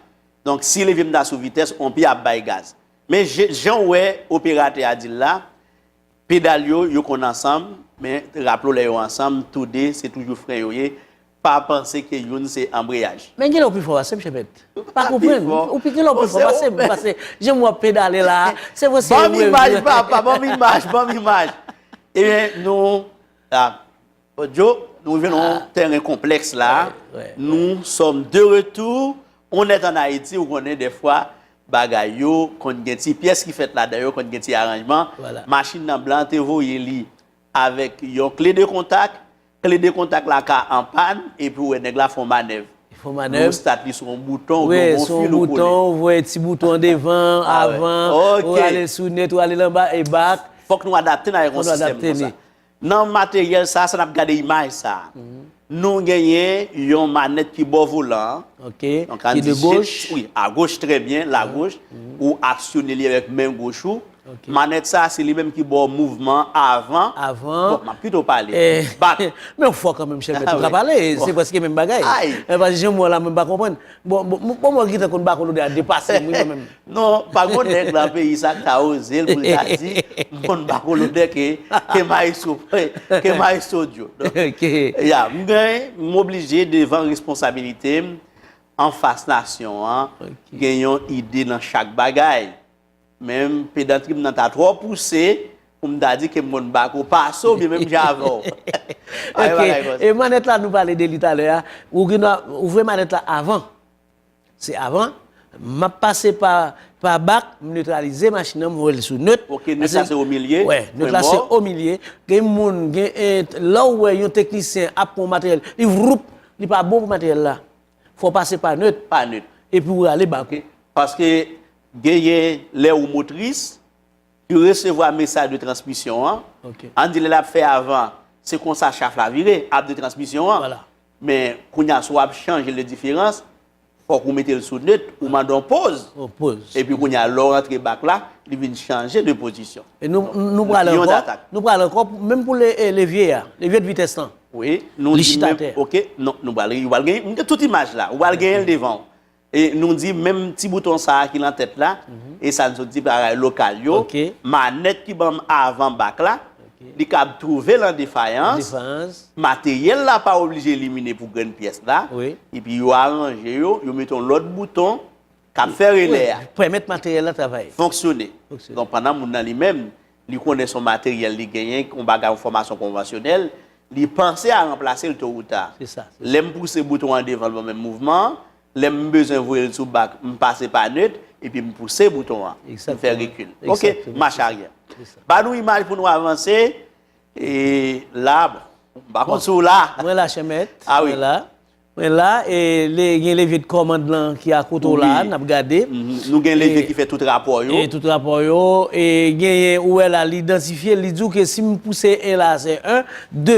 Speaker 1: Donk si levye m ta sou vitès, yon pye ap bay gaz. Men jan w wè operatè a di l la, Pedal yo, yo konn ansanm, men raplo lè yo ansanm, tou 2 se toujou fren yo ye, pa panse ke youn se anbreyaj. Men genlè ou pi fò pasem
Speaker 3: Chebet. Pa konprann, ou pi genlè ou pi fò pasem, pase jan wap pedale la a, se mwen se ou. Banm imaj papa,
Speaker 1: banm imaj, banm imaj. Ebyen nou, ah. Odjo, nou rive nan yon tèren konplèks la, nou sòm de retou, on nèt an Ayiti, ou konnen dèfwa bagay yo konn gen ti pyès ki fèt ladan yo, konn gen ti aranjman, machin nan blan te voye li avèk yon kle de kontak, kle de kontak la ka anpàn, epi ou wè nèg la fè yon manèv, nou stat
Speaker 3: li sou yon bouton
Speaker 1: ou byen yon fil ou
Speaker 3: kole. Ou voye ti bouton an devan, avan, ou ale sou nèt, ou ale lan ba, e bak. Fòk nou adapte n
Speaker 1: avèk yon sistèm konsa. Nan materyèl sa a, sa n ap gade imaj sa a, nou genyen yon manèt ki bò volan an, donk ann di shift, wi, agoch, trè byen, lagoch, ou aksyone li avèk men goch ou, manèt sa a se li menm ki bò mouvman avan, bon, m ap pito pale, bak. Men ou fò
Speaker 3: kanmenm chè mèt, ou ka pale, se prèske menm bagay, men pa jan m wè w la mwen pa konprann, bon, bon mwen ki ta konn bak w lodè a depase m wi mwen menm. Non, pa gon nèg
Speaker 1: lan peyi sa k ta oze l pou l ta di m konn ba kolonè ke maestro ke maestro Djo. Ya, m gen, m oblije devan responsabilite m anfas nasyon an gen yon ide nan chak bagay. Men pedantri m nan ta twò pouse pou m ta di ke m konn ba ko pase w byen menm jan avè w. Ok,
Speaker 3: e manèt la nou pale de li talè a, ou gen dwa ouvri manèt la avan Se avan, map pase pa pa bak, m neutralize machin nan m voye l sou neut. Ok neut la se o milye,
Speaker 1: pwen mò. Wè, neut la se o
Speaker 3: milye, gen moun gen lè w wè yon teknisyen ap pran yon materyèl, li vwoup, li pa bon pou materyèl la. Fò w pase pa neut, pa neut, epi w rale bak ou. Paske
Speaker 1: genyen lè ou motris, ki resevwa mesaj de transmisyon an, an di lè lap fè avan, se konsa chaf la vire, ap de transmisyon an. Men kounya si w ap chanje le diferans, fòk ou mete l sou neut, ou mande yon poz. Yon poz. Epi kounya lè w rantre back la, li vin chanje de pozisyon. E nou nou pral
Speaker 3: Lion ankò, d'attaque. nou pral ankò pou menm pou le e levye a, levye de vitès lan. Wi, nou Li di chita
Speaker 1: menm atè. ok, non nou pral, ou pral gen, m gen tout imaj la, ou pral genyen l devan w. E nou di menm ti bouton sa a ki lan tèt la, e sa n sot di bagay lokal yo, manèt ki ban m avan bak la, li kab twouve lan defayans, materyèl la pa oblije elimine pou grenn pyès la, epi yo aranje yo, yo mete yon lòt bouton k ap fè
Speaker 3: relè a
Speaker 1: fonksyone pandan moun nan li
Speaker 3: menm.
Speaker 1: Li konnen son materyèl li genyen, yon bagay, yon fòmasyon konvansyonèl, li panse a ranplase l to ou ta. Se sa, se sa. Lè m pouse
Speaker 3: bouton an
Speaker 1: devan l ban menm mouvman an, lè m bezwen voye l sou bak, m pase pa neut, epi m pouse bouton an. M fè rekil. Ok, m mache aryè. Ba nou imaj pou nou avanse. E la, bon, m pa konn si w la. Mwen la chèmèt,
Speaker 3: mwen la.
Speaker 1: Mwen la e
Speaker 3: le gen leve de kòmand lan ki a kote w la a, n ap gade. Nou gen leve ki
Speaker 1: fè tout rapò yo. E tout rapò yo.
Speaker 3: E genyen ou wè la li idantifye, li di w ke si m pouse 1 la a se 1, 2,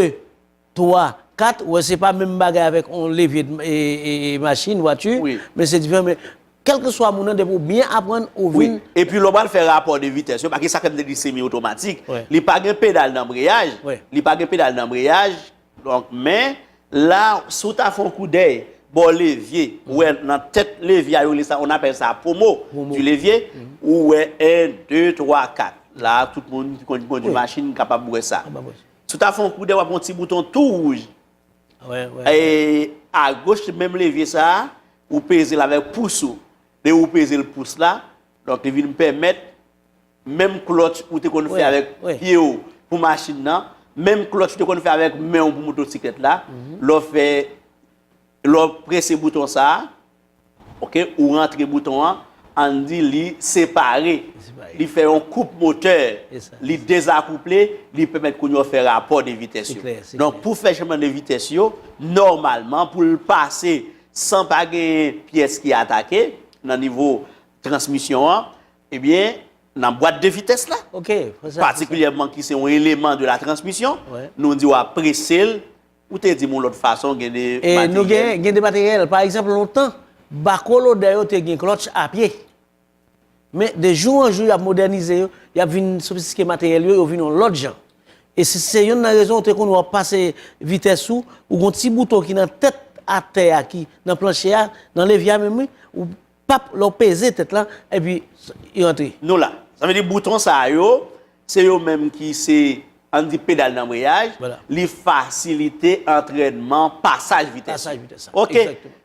Speaker 3: 3, 4, ou wè se pa menm bagay avèk on leve de machin, vwati, men se diferan men kèlke swa moun nan depi ou byen aprann ou vin. Wi. E pi lè w pral fè
Speaker 1: rapò de vitès yo, paske sa k fè m te di semi otomatik, li pa gen pedal danbreyaj, li pa gen pedal danbreyaj, Donk, men, la, si w ta fè yon koudèy bò levye, ou wè nan tèt levye a yo rele sa, on appelle ça pomo du levier, ou wè 1, 2, 3, 4. La a, tout moun ki konn kondwi machin kapab wè sa. Si w ta fè yon koudèy, w ap wè yon ti bouton tou wouj. E, agoch menm levye sa a, ou peze l avèk pous ou. Lè ou peze l pous la, donk li vin pèmèt. Menm klòtch ou te konn fè avèk pye w pou machin nan, menm klòtch ou te konn fè avèk men w pou motosiklèt la, lè w fè, lè w prese bouton sa a, ok, ou rantre bouton an, ann di li separe, li fè yon koup motè, li dezakouple, li pèmèt kounye a w fè rapò de vitès yo. Donk, pou fè chanjman de vitès yo, nòmalman, pou l pase san pa gen pyès ki atake nan nivo transmisyon an, Ebyen, nan bwat de vitès la, patikilyèman ki se yon eleman de la transmisyon, nou di w ap prese l, ou te di m yon lòt fason gen de materyèl. Gen de
Speaker 3: materyèl, pa egzanp lontan, bako lodè yo te gen klòtch a pye. Men, de jou an jou y ap modènize yo, y ap vin sofistiske materyèl yo, yo vin yon lòt jan. E se yonn nan rezon ou te konn wè w ap pase vitès ou, ou gen yon ti bouton ki nan tèt atè a ki nan planche a, nan levye a menm wi, Pap lè w peze tèt lan epi li rantre. Nou la. Sa vle di
Speaker 1: bouton sa yo se yo menm ki se an n di pedal danbreyaj, li fasilite antrènman pasaj vitès. Pasaj vitès sa. Ok.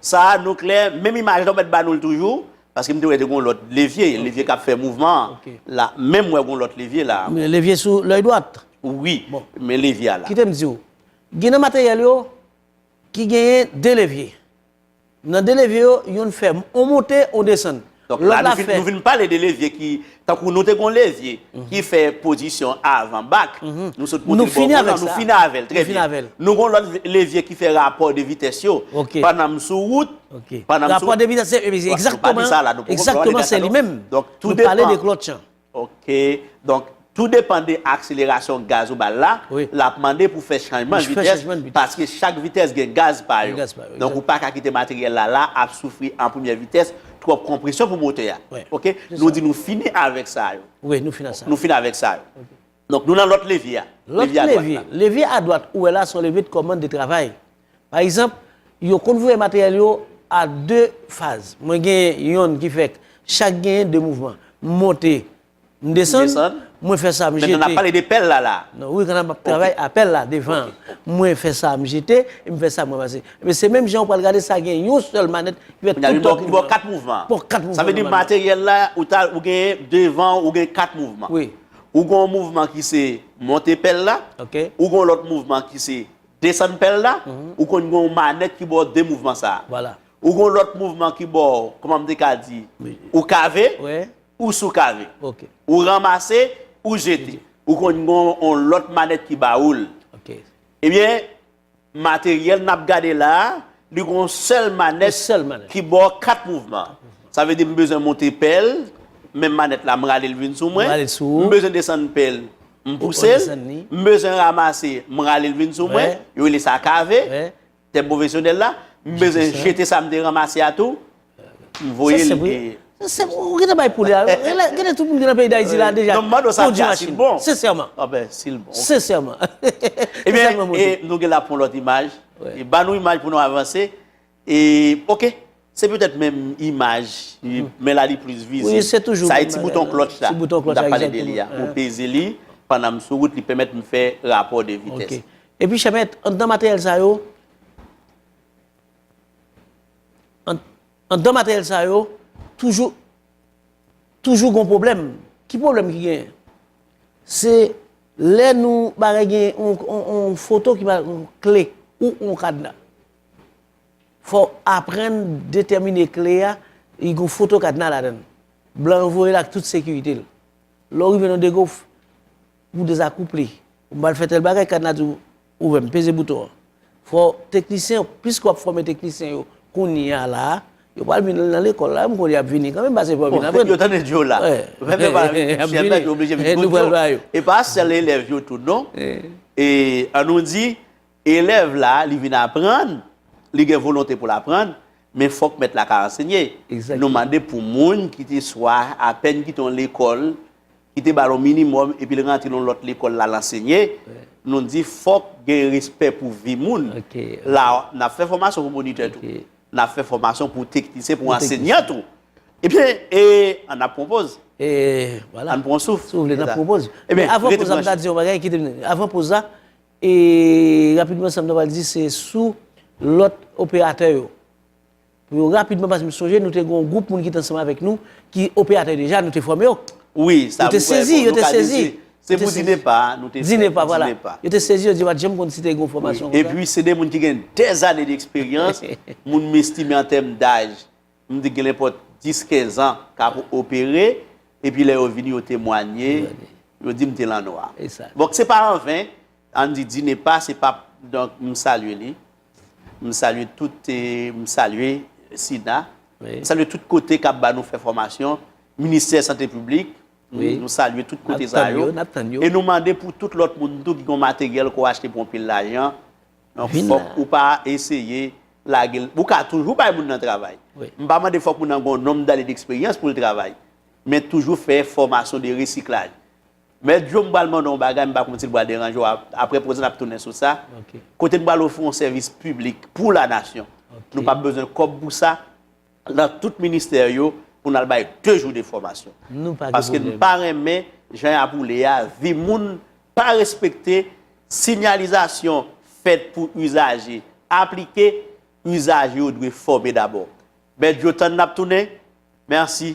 Speaker 1: Sa a nou klè, menm imaj la ou mèt ba nou l toujou? Paske m te wè te gen yon lòt levye, levye k ap fè mouvman an la. Menm wè gen yon lòt levye la. Levye sou lèy
Speaker 3: dwat? Wi.
Speaker 1: Men levye a la. Kite m di w.
Speaker 3: Gen nan materyèl yo ki genyen 2 levye. Nan 2 levye yo, youn fè on monte, on desann. Donk la nou fin, nou
Speaker 1: vin pale de levye ki, tankou nou te gon levye ki fè pozisyon avan bak, nou sot monte l bò moun lan, nou
Speaker 3: fini avè l, trè
Speaker 1: byen. Nou gon lòt levye ki fè rapò de vitès yo, pandan m sou wout, pandan m sou. Rapò de
Speaker 3: vitès se, ekzakteman, ekzakteman se li menm. Donk tou depan. Nou pale de
Speaker 1: klotch an.
Speaker 3: Ok,
Speaker 1: donk tou depan de akselerasyon gaz ou bal la, lap mande pou fè chanjman de vitès, paske chak vitès gen gaz pa yo. Donk ou paka kite materyèl la la ap soufri an premyè vitès, twòp konpresyon pou motè a. Ok, nou di nou fini avèk sa yo. Wi, nou
Speaker 3: fini avèk sa yo.
Speaker 1: Donk nou nan lòt levye a. Lòt levye. Levye
Speaker 3: adwat ou wè la se yon levye de kòmand de travay. Pa egzanp, yo konn voye materyèl yo a 2 faz. Mwen gen yonn ki fèk chak genyen 2 mouvman. M monte, m desann, mwen fè sa m jete. Mentan n ap pale de pèl la la
Speaker 1: a. Non, wi, kanna m ap travay
Speaker 3: a pèl la devan an. Mwen fè sa m jete, e m fè sa m ranmase. Ebyen se menm jan ou pral gade sa gen yon sèl manèt ki fè tout an. Kounye a li ba w 4 mouvman.
Speaker 1: Ba w 4 mouvman. Sa vle di
Speaker 3: materyèl la
Speaker 1: ou ta ou genyen devan ou gen 4 mouvman. Wi. Ou gen yon
Speaker 3: mouvman
Speaker 1: ki se monte pèl la, ou gen yon lòt
Speaker 3: mouvman
Speaker 1: ki se desann pèl la, ou konn gen yon manèt ki ba w de mouvman sa a. Ou gen yon lòt
Speaker 3: mouvman
Speaker 1: ki ba w, kòman m te ka di, ou kave, ou sou kave. Ou ranmase, ou jete. Ou konn gen yon lòt manèt ki ba ou l.
Speaker 3: Ebyen,
Speaker 1: Materyèl nap gade la, li gon sèl manèt ki ba w 4 mouvman. Sa vle di m bezwen monte pèl, menm manèt la m rale l vin sou mwen, m bezwen desann pèl, m pouse l, m bezwen ramase, m rale l vin sou mwen, yo rele sa kave, tèm pwofesyonèl la, m bezwen jete sa m te ramase a tou. Li voye li peye. Sensè, ou gen de
Speaker 3: bay pou li a. Gen de tout moun gen nan peyi Dayiti la deja. Non, mando sa dja si l
Speaker 1: bon. Sensèman. A ben, si
Speaker 3: l bon.
Speaker 1: Sensèman.
Speaker 3: E ben,
Speaker 1: nou gen la pou lòt imaj. E ba nou imaj pou nou avanse. E, ok. Se petèt menm imaj. Men la li plis vize. Ou se toujou. Sa e ti bouton
Speaker 3: klòtch
Speaker 1: la.
Speaker 3: Ti
Speaker 1: bouton klòtch la. Mwen ta pale de li a.
Speaker 3: Ou
Speaker 1: peze li. Pandan m sou wout, li pèmèt m fè rapò de vitès. Ok. E pi chèmèt,
Speaker 3: andan materyèl sa yo. Andan materyèl sa yo, toujou, toujou gon pwoblèm. Ki pwoblèm ki genyen? Se lè nou bagay gen yon foto ki pa yon kle ou yon kadna. Fò w aprann detèmine kle a, li gon foto kadna ladann. Blan yo voye l ak tout sekirite l. Lè w rive nan degou, ou dezakouple. Ou pral fè tèl bagay, kadna di w, Ouvè m, peze bouton an. Fò teknisyen yo, piske wap fòme teknisyen yo kounya la, yo pral vin nan lekòl la, m konnen yap vini kanmenm pase fò yo vin aprann. Yo tande djo la.
Speaker 1: Menm yo pa chèf la yo oblije vin kout djo. E pa sèl elèv yo tou non. E an nou di elèv la li vin aprann, li gen volonte pou l aprann, men fòk mèt la ka ansenye. Nou mande pou moun ki te swa apèn kite yon lekòl ki te ba l yon minimòm epi l rantre nan yon lòt lekòl l al ansenye, nou di fòk gen respè pou vi moun. La a, n ap fè fòmasyon pou monitè tou. N ap fè fòmasyon pou teknisyen, pou ansenyan tou. Ebyen, e, an ap pwopoz. E, wala. An
Speaker 3: pran souf. Si w vle, n ap
Speaker 1: pwopoz. Ebyen,
Speaker 3: avan poz la, m ta di yon bagay, kite m di. Avan poz la, e, rapidman sa m ta pral di se sou lòt operatè yo. pou yo rapidman paske m sonje nou te gen yon gwoup moun ki te ansanm avèk nou ki operatè deja nou te fòme yo. Wi, sa pou fè
Speaker 1: bon, nou ka di se
Speaker 3: se pou DINEPA
Speaker 1: a nou te fè pou DINEPA. Yo te
Speaker 3: sezi yo di yo pa t janm konn si te gen yon fòmasyon konsa. Epi se de moun ki gen
Speaker 1: dèzane deksperyans, moun m estime an tèm daj m di genlèpòt dis kenzan k ap opere epi lè yo vini yo temwanye yo di m te lannwa. Donk se pa anven an di DINEPA se pa donk m salye li. M salye tout m salye Sina m salye tout kote kap ba nou fè fòmasyon ministè sante piblik nou salye tout kote sa yo e nou mande pou tout lòt moun tou ki gon materyèl ke w achte pou yon pil lajan fòk ou pa eseye lage l ou ka toujou bay moun nan travay m pa mande fòk moun nan gon nonm dane deksperyans pou l travay men toujou fè fòmasyon de resiklaj. Mèt Djo m pral mande w yon bagay m pa konn si l pral deranje w aprè poze n ap tounen sou sa kote n pral ofri yon sèvis piblik pou la nasyon nou pap bezwen kòb pou sa nan tout ministè yo pou n al bay 2 jou de fòmasyon paske m pa renmen jan y ap woule a vi moun pa respekte sinyalizasyon fèt pou izaje aplike izaje yo dwe fòme dabò Mèt Djo tann n ap tounen mèsi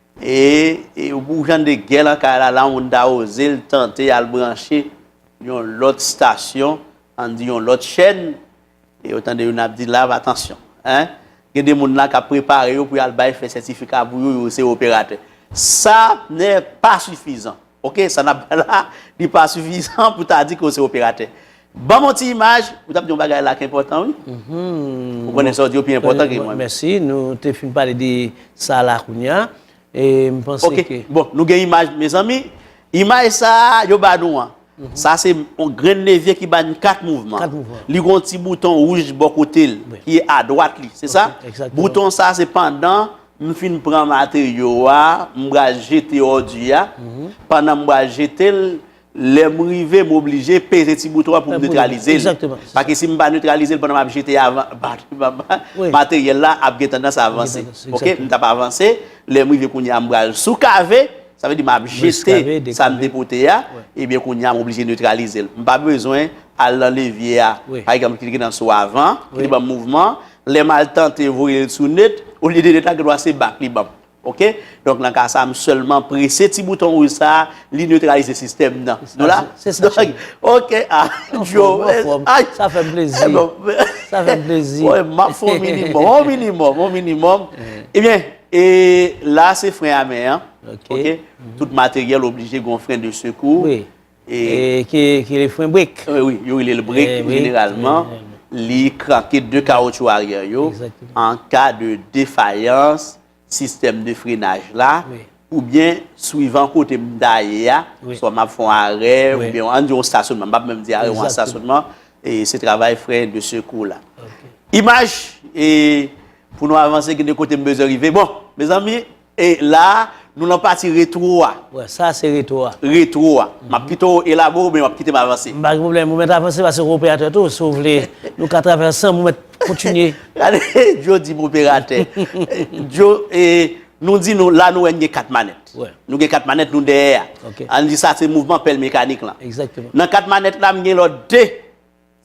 Speaker 1: E pou jan de gè lan kay la, la moun ta oze l tante al branche yon lòt stasyon, ann di yon lòt chèn, e ou tande youn ap di la, atansyon, hein, gen de moun la k ap prepare yo pou y al bay fè sètifika pou yo, yo se operatè. Sa nè pa sifizan. Ok, sa nap bay la, li pa sifizan pou ta di ke w se operatè. Ban m yon ti imaj, ou tap di yon bagay la ki enpòtan wi. Ou konnen sa w di yo pi enpòtan ke mwen. Mèsi, nou te fin
Speaker 3: pale de sa la kounya, e m panse ke. Ok, bon, nou gen imaj
Speaker 1: mezanmi, imaj sa a yo ba nou an, sa se yon grenn levye ki ba nou 4 mouvman. 4 mouvman. Li gen yon ti bouton wouj bò kote l, ki a dwat li, se sa? Exactement. Bouton sa se
Speaker 3: pandan
Speaker 1: M fin pran materyo a, m pral jete òdi a. Pandan m pral jete l, lè m rive m oblije peze ti bouton an pou m netralize l. Paske si m
Speaker 3: pa netralize
Speaker 1: l pandan m ap jete a, materyèl la ap gen tandans avanse. Ok, m t ap avanse. Lè m rive kounye a m pral soukave. Sa vle di m ap jete sa m te pote a. Ebyen kounye a m oblije netralize l. M pa bezwen al nan levye a. Pa egzanp, klike nan sou avan ki te ban m mouvman. Lè m al tante voye l sou net, olye de net la gendwa se bak li banm. Ok? Donk nan ka sa a m sèlman prese ti bouton wouj sa a, li netralize sistèm nan. Nou la? Se sa
Speaker 3: cheri. Ok, a Djo.
Speaker 1: Ou anfòm,
Speaker 3: ou anfòm. Sa fè m plezi. Sa fè m plezi. M ap fè w minimòm.
Speaker 1: On minimòm, on minimòm. Ebyen, e la se fren a men an. Ok. Tout materyèl oblije gen yon fren de sekou. Wi.
Speaker 3: Ki rele fren brek. Wi, yo rele l brek
Speaker 1: jeneralman. Li kranke 2 kawotchou aryè yo an ka de defayans sistèm de frenaj la oubyen swivan kote m ta ye a, swa m ap fè yon arè oubyen an n di yon stasyonman, m pa p menm di arè, yon stasyonman, se travay fren de sekou la. Imaj, pou nou avanse gen de kote m bezwen rive. Bon, mezanmi, E la a, nou lan pati retwo a. Wè, sa a se retwo
Speaker 3: a. Retwo a. M ap
Speaker 1: kite w elabore oubyen w ap kite m avanse? M pa gen pwoblèm. Ou mèt avanse
Speaker 3: paske ou operatè tou. Si w vle, nou ka travay ansanm. Ou mèt kontinye. Gade, Djo
Speaker 1: di m operatè. Djo, e, nou di nou, la nou wè n gen kat manèt. Wè. Nou gen kat manèt,
Speaker 3: nou
Speaker 1: dèyè a. Ok. An n di sa se
Speaker 3: mouvman
Speaker 1: pèl mekanik lan. Egzakteman. Nan kat manèt
Speaker 3: la, m gen
Speaker 1: lòt de.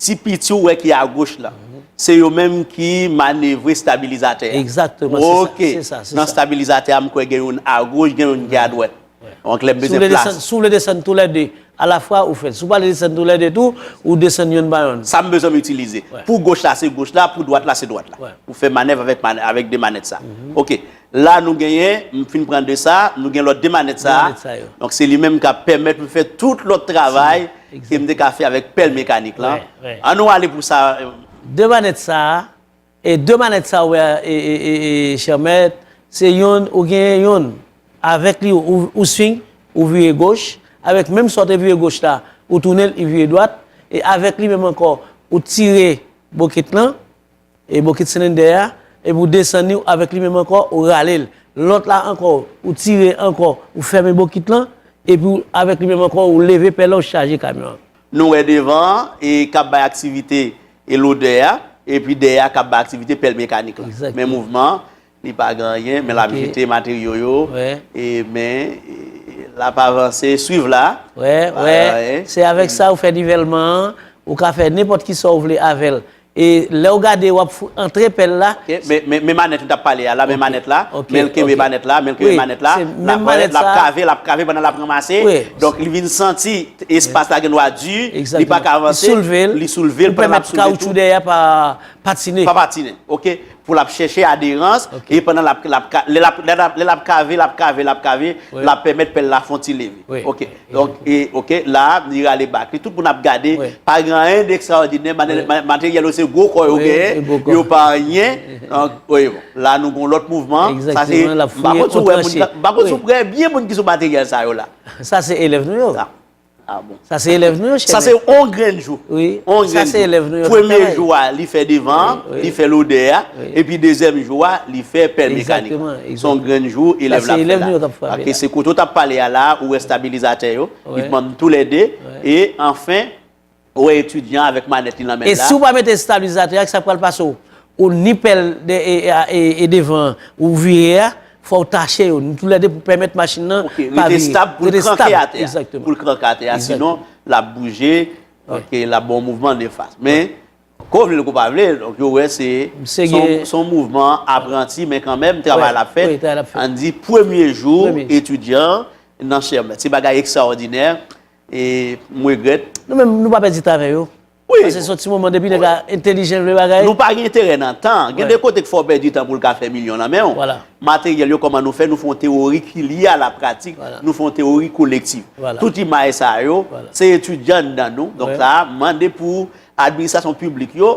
Speaker 1: Ti piti ou wè ki agoch la, se yo menm ki manevre stabilizatè a. Exactement, se sa,
Speaker 3: se sa, se sa.
Speaker 1: Ok, nan
Speaker 3: stabilizatè a
Speaker 1: m kwè gen youn agoch, gen youn ki adwèt. Donk lè m peze plas. Si w vle desann, si w vle desann tou lè 2
Speaker 3: a la fwa ou fèl. Si w pa vle desann tou lè 2 tou, ou desann youn pa youn. Sa m bezwen m itilize.
Speaker 1: Pou goch la se
Speaker 3: goch la,
Speaker 1: pou dwat la se dwat la. Ou fè manèv avèk 2 manèt sa. Ok. La nou genyen, m fin pran 2 sa, nou gen lòt 2 manèt sa. Donk se li menm k ap pèmèt m fè tout lòt travay ke m te ka fè avèk pèl mekanik lan. An nou ale pou
Speaker 3: sa.
Speaker 1: 2 manèt sa,
Speaker 3: e 2 manèt sa ou wè chè mèt, se youn ou genyen youn. Avèk li ou swing, ou vire goch, avèk menm sa ou te vire goch la, ou tounen li vire dwat, e avèk li menm ankò ou tire bokit lan. E bokit silendè a, epi ou desann li, ou avèk li menm ankò, ou rale l. Lòt la ankò, ou tire ankò, ou fèmen bokit lan, epi ou avèk li menm ankò, ou leve pèlen, ou chaje kamyon an. Nou wè devan
Speaker 1: an, e kap bay aktivite, e lodè a, epi dèyè a kap bay aktivite pèl mekanik lan. Menm mouvman an. Li pa gen anyen men lap jete materyo yo e
Speaker 3: men
Speaker 1: lap avanse swiv la wè wè
Speaker 3: se avèk sa ou fè nivèlman an ou ka fè nenpòt ki sa ou vle avèl e lèw gade wap antre pèl la men manèt
Speaker 1: ou tap pale a la men manèt la menl kenbe manèt la menl kenbe manèt la lap
Speaker 3: wè
Speaker 1: lap kave lap kave pandan lap ranmase donk li vin
Speaker 3: santi
Speaker 1: espas la gen dwa di li paka avanse li soulve li pèmèt kawoutchou
Speaker 3: dèyè pa patine pa patine ok
Speaker 1: pou l ap chèche aderans, e pandan l ap, l ap, lè l ap, lè l ap kave, l ap kave, l ap kave, l ap pèmèt pèl la fè yon ti leve. Ok. Donk,
Speaker 3: e,
Speaker 1: ok, la a, li rale bak li. Tout moun ap gade, pa gen anyen dekstraòdinè, materyèl yo se gwo kò yo genyen, yo pa anyen. Donk, oye, bon, la a nou gen yon lòt mouvman. Sa se, m pa
Speaker 3: konn si w wè moun, m pa konn si
Speaker 1: w wè byen moun ki sou materyèl sa yo la. Sa se elèv nou
Speaker 3: yo. Ah bon. Sa
Speaker 1: se elèv nou yo chèmen. Sa
Speaker 3: se yon grenn
Speaker 1: jou. Wi. Sa se
Speaker 3: elèv nou yo. Premye jou a li fè
Speaker 1: devan an, li fè lodè a, epi dezyèm jou a li fè pèl mekanik. Egzakteman. Son grenn jou elèv la ap fè la. Sa se elèv nou yo kap frape la. Paske se kote ou tap pale a la ou wè stabilizatè yo. Wi. Li pran tou lè de. Wi. E anfen Ou wè etidyan avèk manèt li nan men l la. E si w pa mete estabilizatè
Speaker 3: a, ki sa k pral pase w? Ou ni pèl e devan an ou vire a, fò w tache yo. Ni toulède pou pèmèt machin nan pa vire. Rete estab pou l
Speaker 1: kranke atè a. Pou l kranke atè a.
Speaker 3: Sinon,
Speaker 1: l ap bouje, l ap ban w mouvman nefas. Men, ke w vle l ke w pa vle l, donk yo wè se yon mouvman apranti, men kanmenm, travay la ap fèt. An di, premye jou etidyan nan chèmèt. Se bagay ekstraòdinè. E m regrèt. Nou menm nou pa pèdi tan
Speaker 3: avè yo. Wi. Pase son ti
Speaker 1: moman depi
Speaker 3: nèg la entelijan vle bagay. Nou pa gen enterè nan
Speaker 1: tan. Gen de kote k fè w pèdi tan pou l ka fè milyon nan men w. Wala. Materyèl
Speaker 3: yo kòman nou
Speaker 1: fè nou fè yon tewori ki lye a la pratik. Wala. Nou fè yon tewori kolektif. Wala. Tout imaj
Speaker 3: sa yo.
Speaker 1: Wala. Se etidyan nan nou. Donk sa a mande pou administrasyon piblik yo.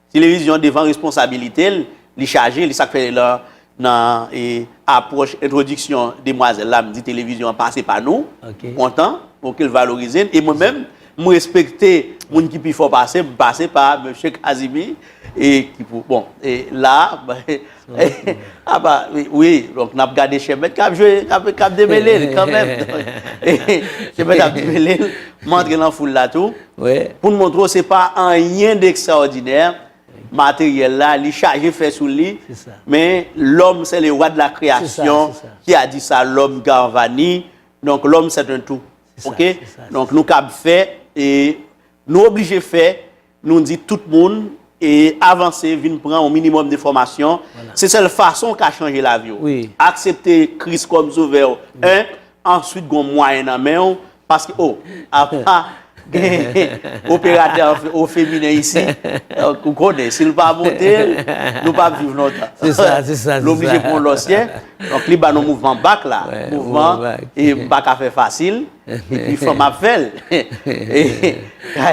Speaker 1: Televizyon devan responsabilite l, li chaje, li sak fè lan nan apwòch entwodiksyon demwazèl la m di televizyon an pase pa nou, m kontan ok l valorize n e mwen menm m respekte moun ki pi fò pase m, m pase pa mesye Kazimi e ki pou bon e la. Apa, wi, donk n ap gade Chèmèt k ap jwe, k ap demele l kanmenm. Chèmèt ap demele l, m antre nan foul la tou. Pou n montre w se pa anyen dekstraòdinè, materyèl la, li chaje fè sou li, men lòm sè le wa de la kreyasyon, ki a di sa, lòm Garvani, donk lòm sèt en tou. Ok? Donk nou kab fè, e nou oblije fè. Nou di tout moun e avanse vin pran yon minimum de fòmasyon se sèl fason ou ka chanje lavi w aksepte
Speaker 3: Kris
Speaker 1: kòm sovè w 1 answit gon mwayen nan men w paske oh apa gen operatè au feminen isi donk ou konnen si l pa monte l nou pap viv lontan l
Speaker 3: oblije pran yon lòsyè
Speaker 1: donk li ba nou mouvman back la mouvman e m pa ka fè fasil. Epi fanm ap fè l.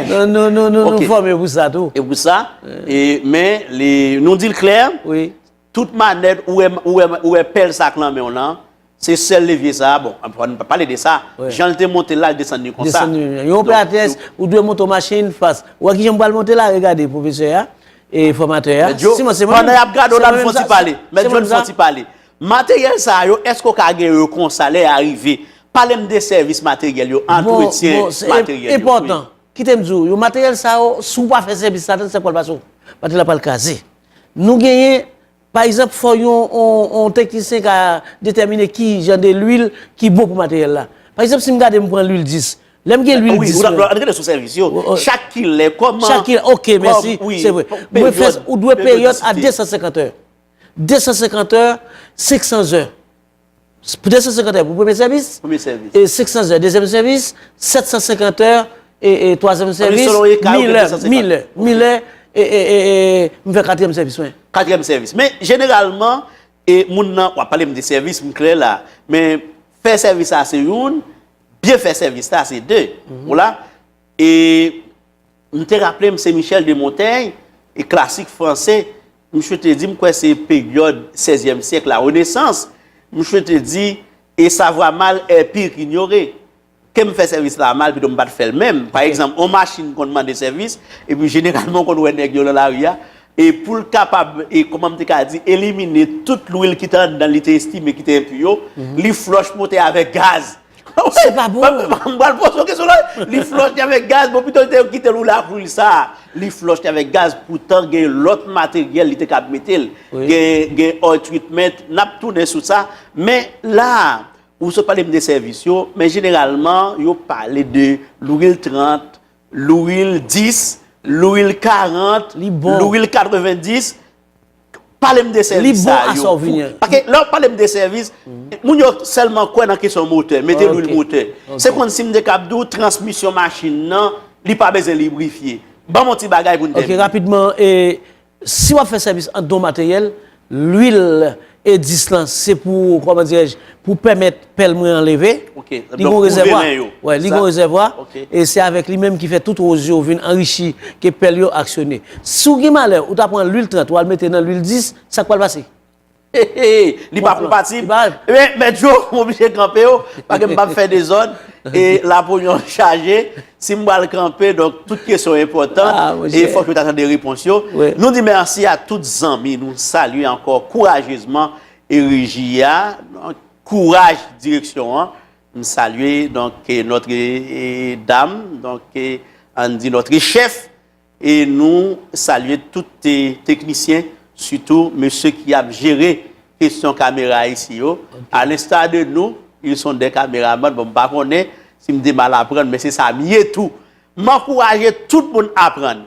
Speaker 1: Non
Speaker 3: non non nou fòme pou sa tou. E pou sa.
Speaker 1: Men nou di l klè. Wi. Tout
Speaker 3: manèt
Speaker 1: ou wè pèl sa k lan men w lan. Se sèl levye sa. Bon anpwa nou pa pale de sa. Jan l te monte la l desann li konsa. Desann li. Yon operatrice
Speaker 3: ou dwe monte yon machin fas. Ou wè ki jan m pral monte la regade pwofesè a. E fòmatè a. Mèt djo. Pandan y ap
Speaker 1: gade w la nou fon ti pale. Mèt djo nou fon ti pale. Materyèl sa yo eske ou ka gen yo konsa lè ya rive? Palem de sèvis materyèl yo, antretyen materyèl yo wi. Kitem
Speaker 3: diw yo materyèl sa yo si ou pa fè sèvis la tande sak pral pase w materyèl la pral kraze. Nou genyen pa egzanp fò yon teknisyen ka detèmine ki jan de lwil ki bon pou materyèl la. Pa egzanp sim gade m pran lwil 10 lèm gen lwil 10 lan. Ann rete sou sèvis yo.
Speaker 1: Chak kilè kòman. Chak kilè ok mèsi
Speaker 3: se vre. Ou dwe peryòd a 250 è. 250 è, 500 zè. 250 è pou premye sèvis, 500 zè dezyèm sèvis, 750 è twazyèm sèvis, 1000 è, 1000 è, 1000 è m fè katriyèm sèvis mwen. Katriyèm sèvis. Men
Speaker 1: jeneralman, moun nan, w ap pale m de sèvis, m klè la. Men fè sèvis la se youn, byen fè sèvis la se de. Ou la? E m te raple m se Michel de Montaigne, e klasik franse, misye te di m kwè se peryòd sèzyèm syèk la renesans, misye te di, e savwa mal è pir k'inyore. Ke m fè sèvis la a mal pito m pat fè l menm. Pa egzanp, on machin konn mande sèvis, epi jeneralman ou konn wè nèg yo lan lari a, e pou l kapab, e kòman m te ka di, elimine tout lwil ki te anndan l li te estime ki te enpi yo, li flòch motè a avèk gaz! Se pa
Speaker 3: bon. M pral poze yon kesyon la.
Speaker 1: Li flòch li avèk gaz, bon pito li te kite l woule ak lwil sa a. Li flòch li avèk gaz poutan gen lòt materyèl li te kab mete l. Gen oil treatment, n ap tounen sou sa. Men la, ou sot pale m de sèvis yo, men jeneralman yo pale de lwil 30, lwil 10, lwil 40, lwil 90. Pale m de sèvis sa yo. Li bon a sa w vini an. Paske lè w pale m de sèvis, moun yo sèlman kwè nan kesyon motè, mete lwil motè. Se kon si m te kab di w transmisyon machin nan, li pa bezwen librifye. Ban m yon ti bagay pou n tèmine. Ok, rapidman,
Speaker 3: si w ap fè sèvis an don materyèl, lwil E10 lan se pou, kòman dirèj, pou pèmèt. Pèl mwen an leve. Ok. Li gon
Speaker 1: rezèvwa.
Speaker 3: Wè, li gon rezèvwa. Ok. E se avèk li menm ki fè tout woz yo vin anrichi ke pèl yo aksyone. Si w gen malè, ou ta pran lwil 30, wal mete nan lwil 10, sa k pral pase? Heheheh!
Speaker 1: Li pa konpatib? Li pa. Ebyen, Mèt Djo, m oblije kanpe w, paske m pap fè dezòd. E lapo yon chaje. Si m pral kanpe, donk tout kesyon enpòtan. Ah, mon chè. E fòk yo ta tande repons yo. Wi. Nou di mèsi a tout zanmi nou salye ankò kourajezman e reji a. kouraj direksyon an m salye donk notre dam donk ann di notre chèf e nou salye tout teknisyen sitou mesye ki ap jere kesyon kamera isi yo a l'instar de nou ils sont des cameraman bon m pa konnen si m te mal aprann men se sa m ye tou m ankouraje tout moun aprann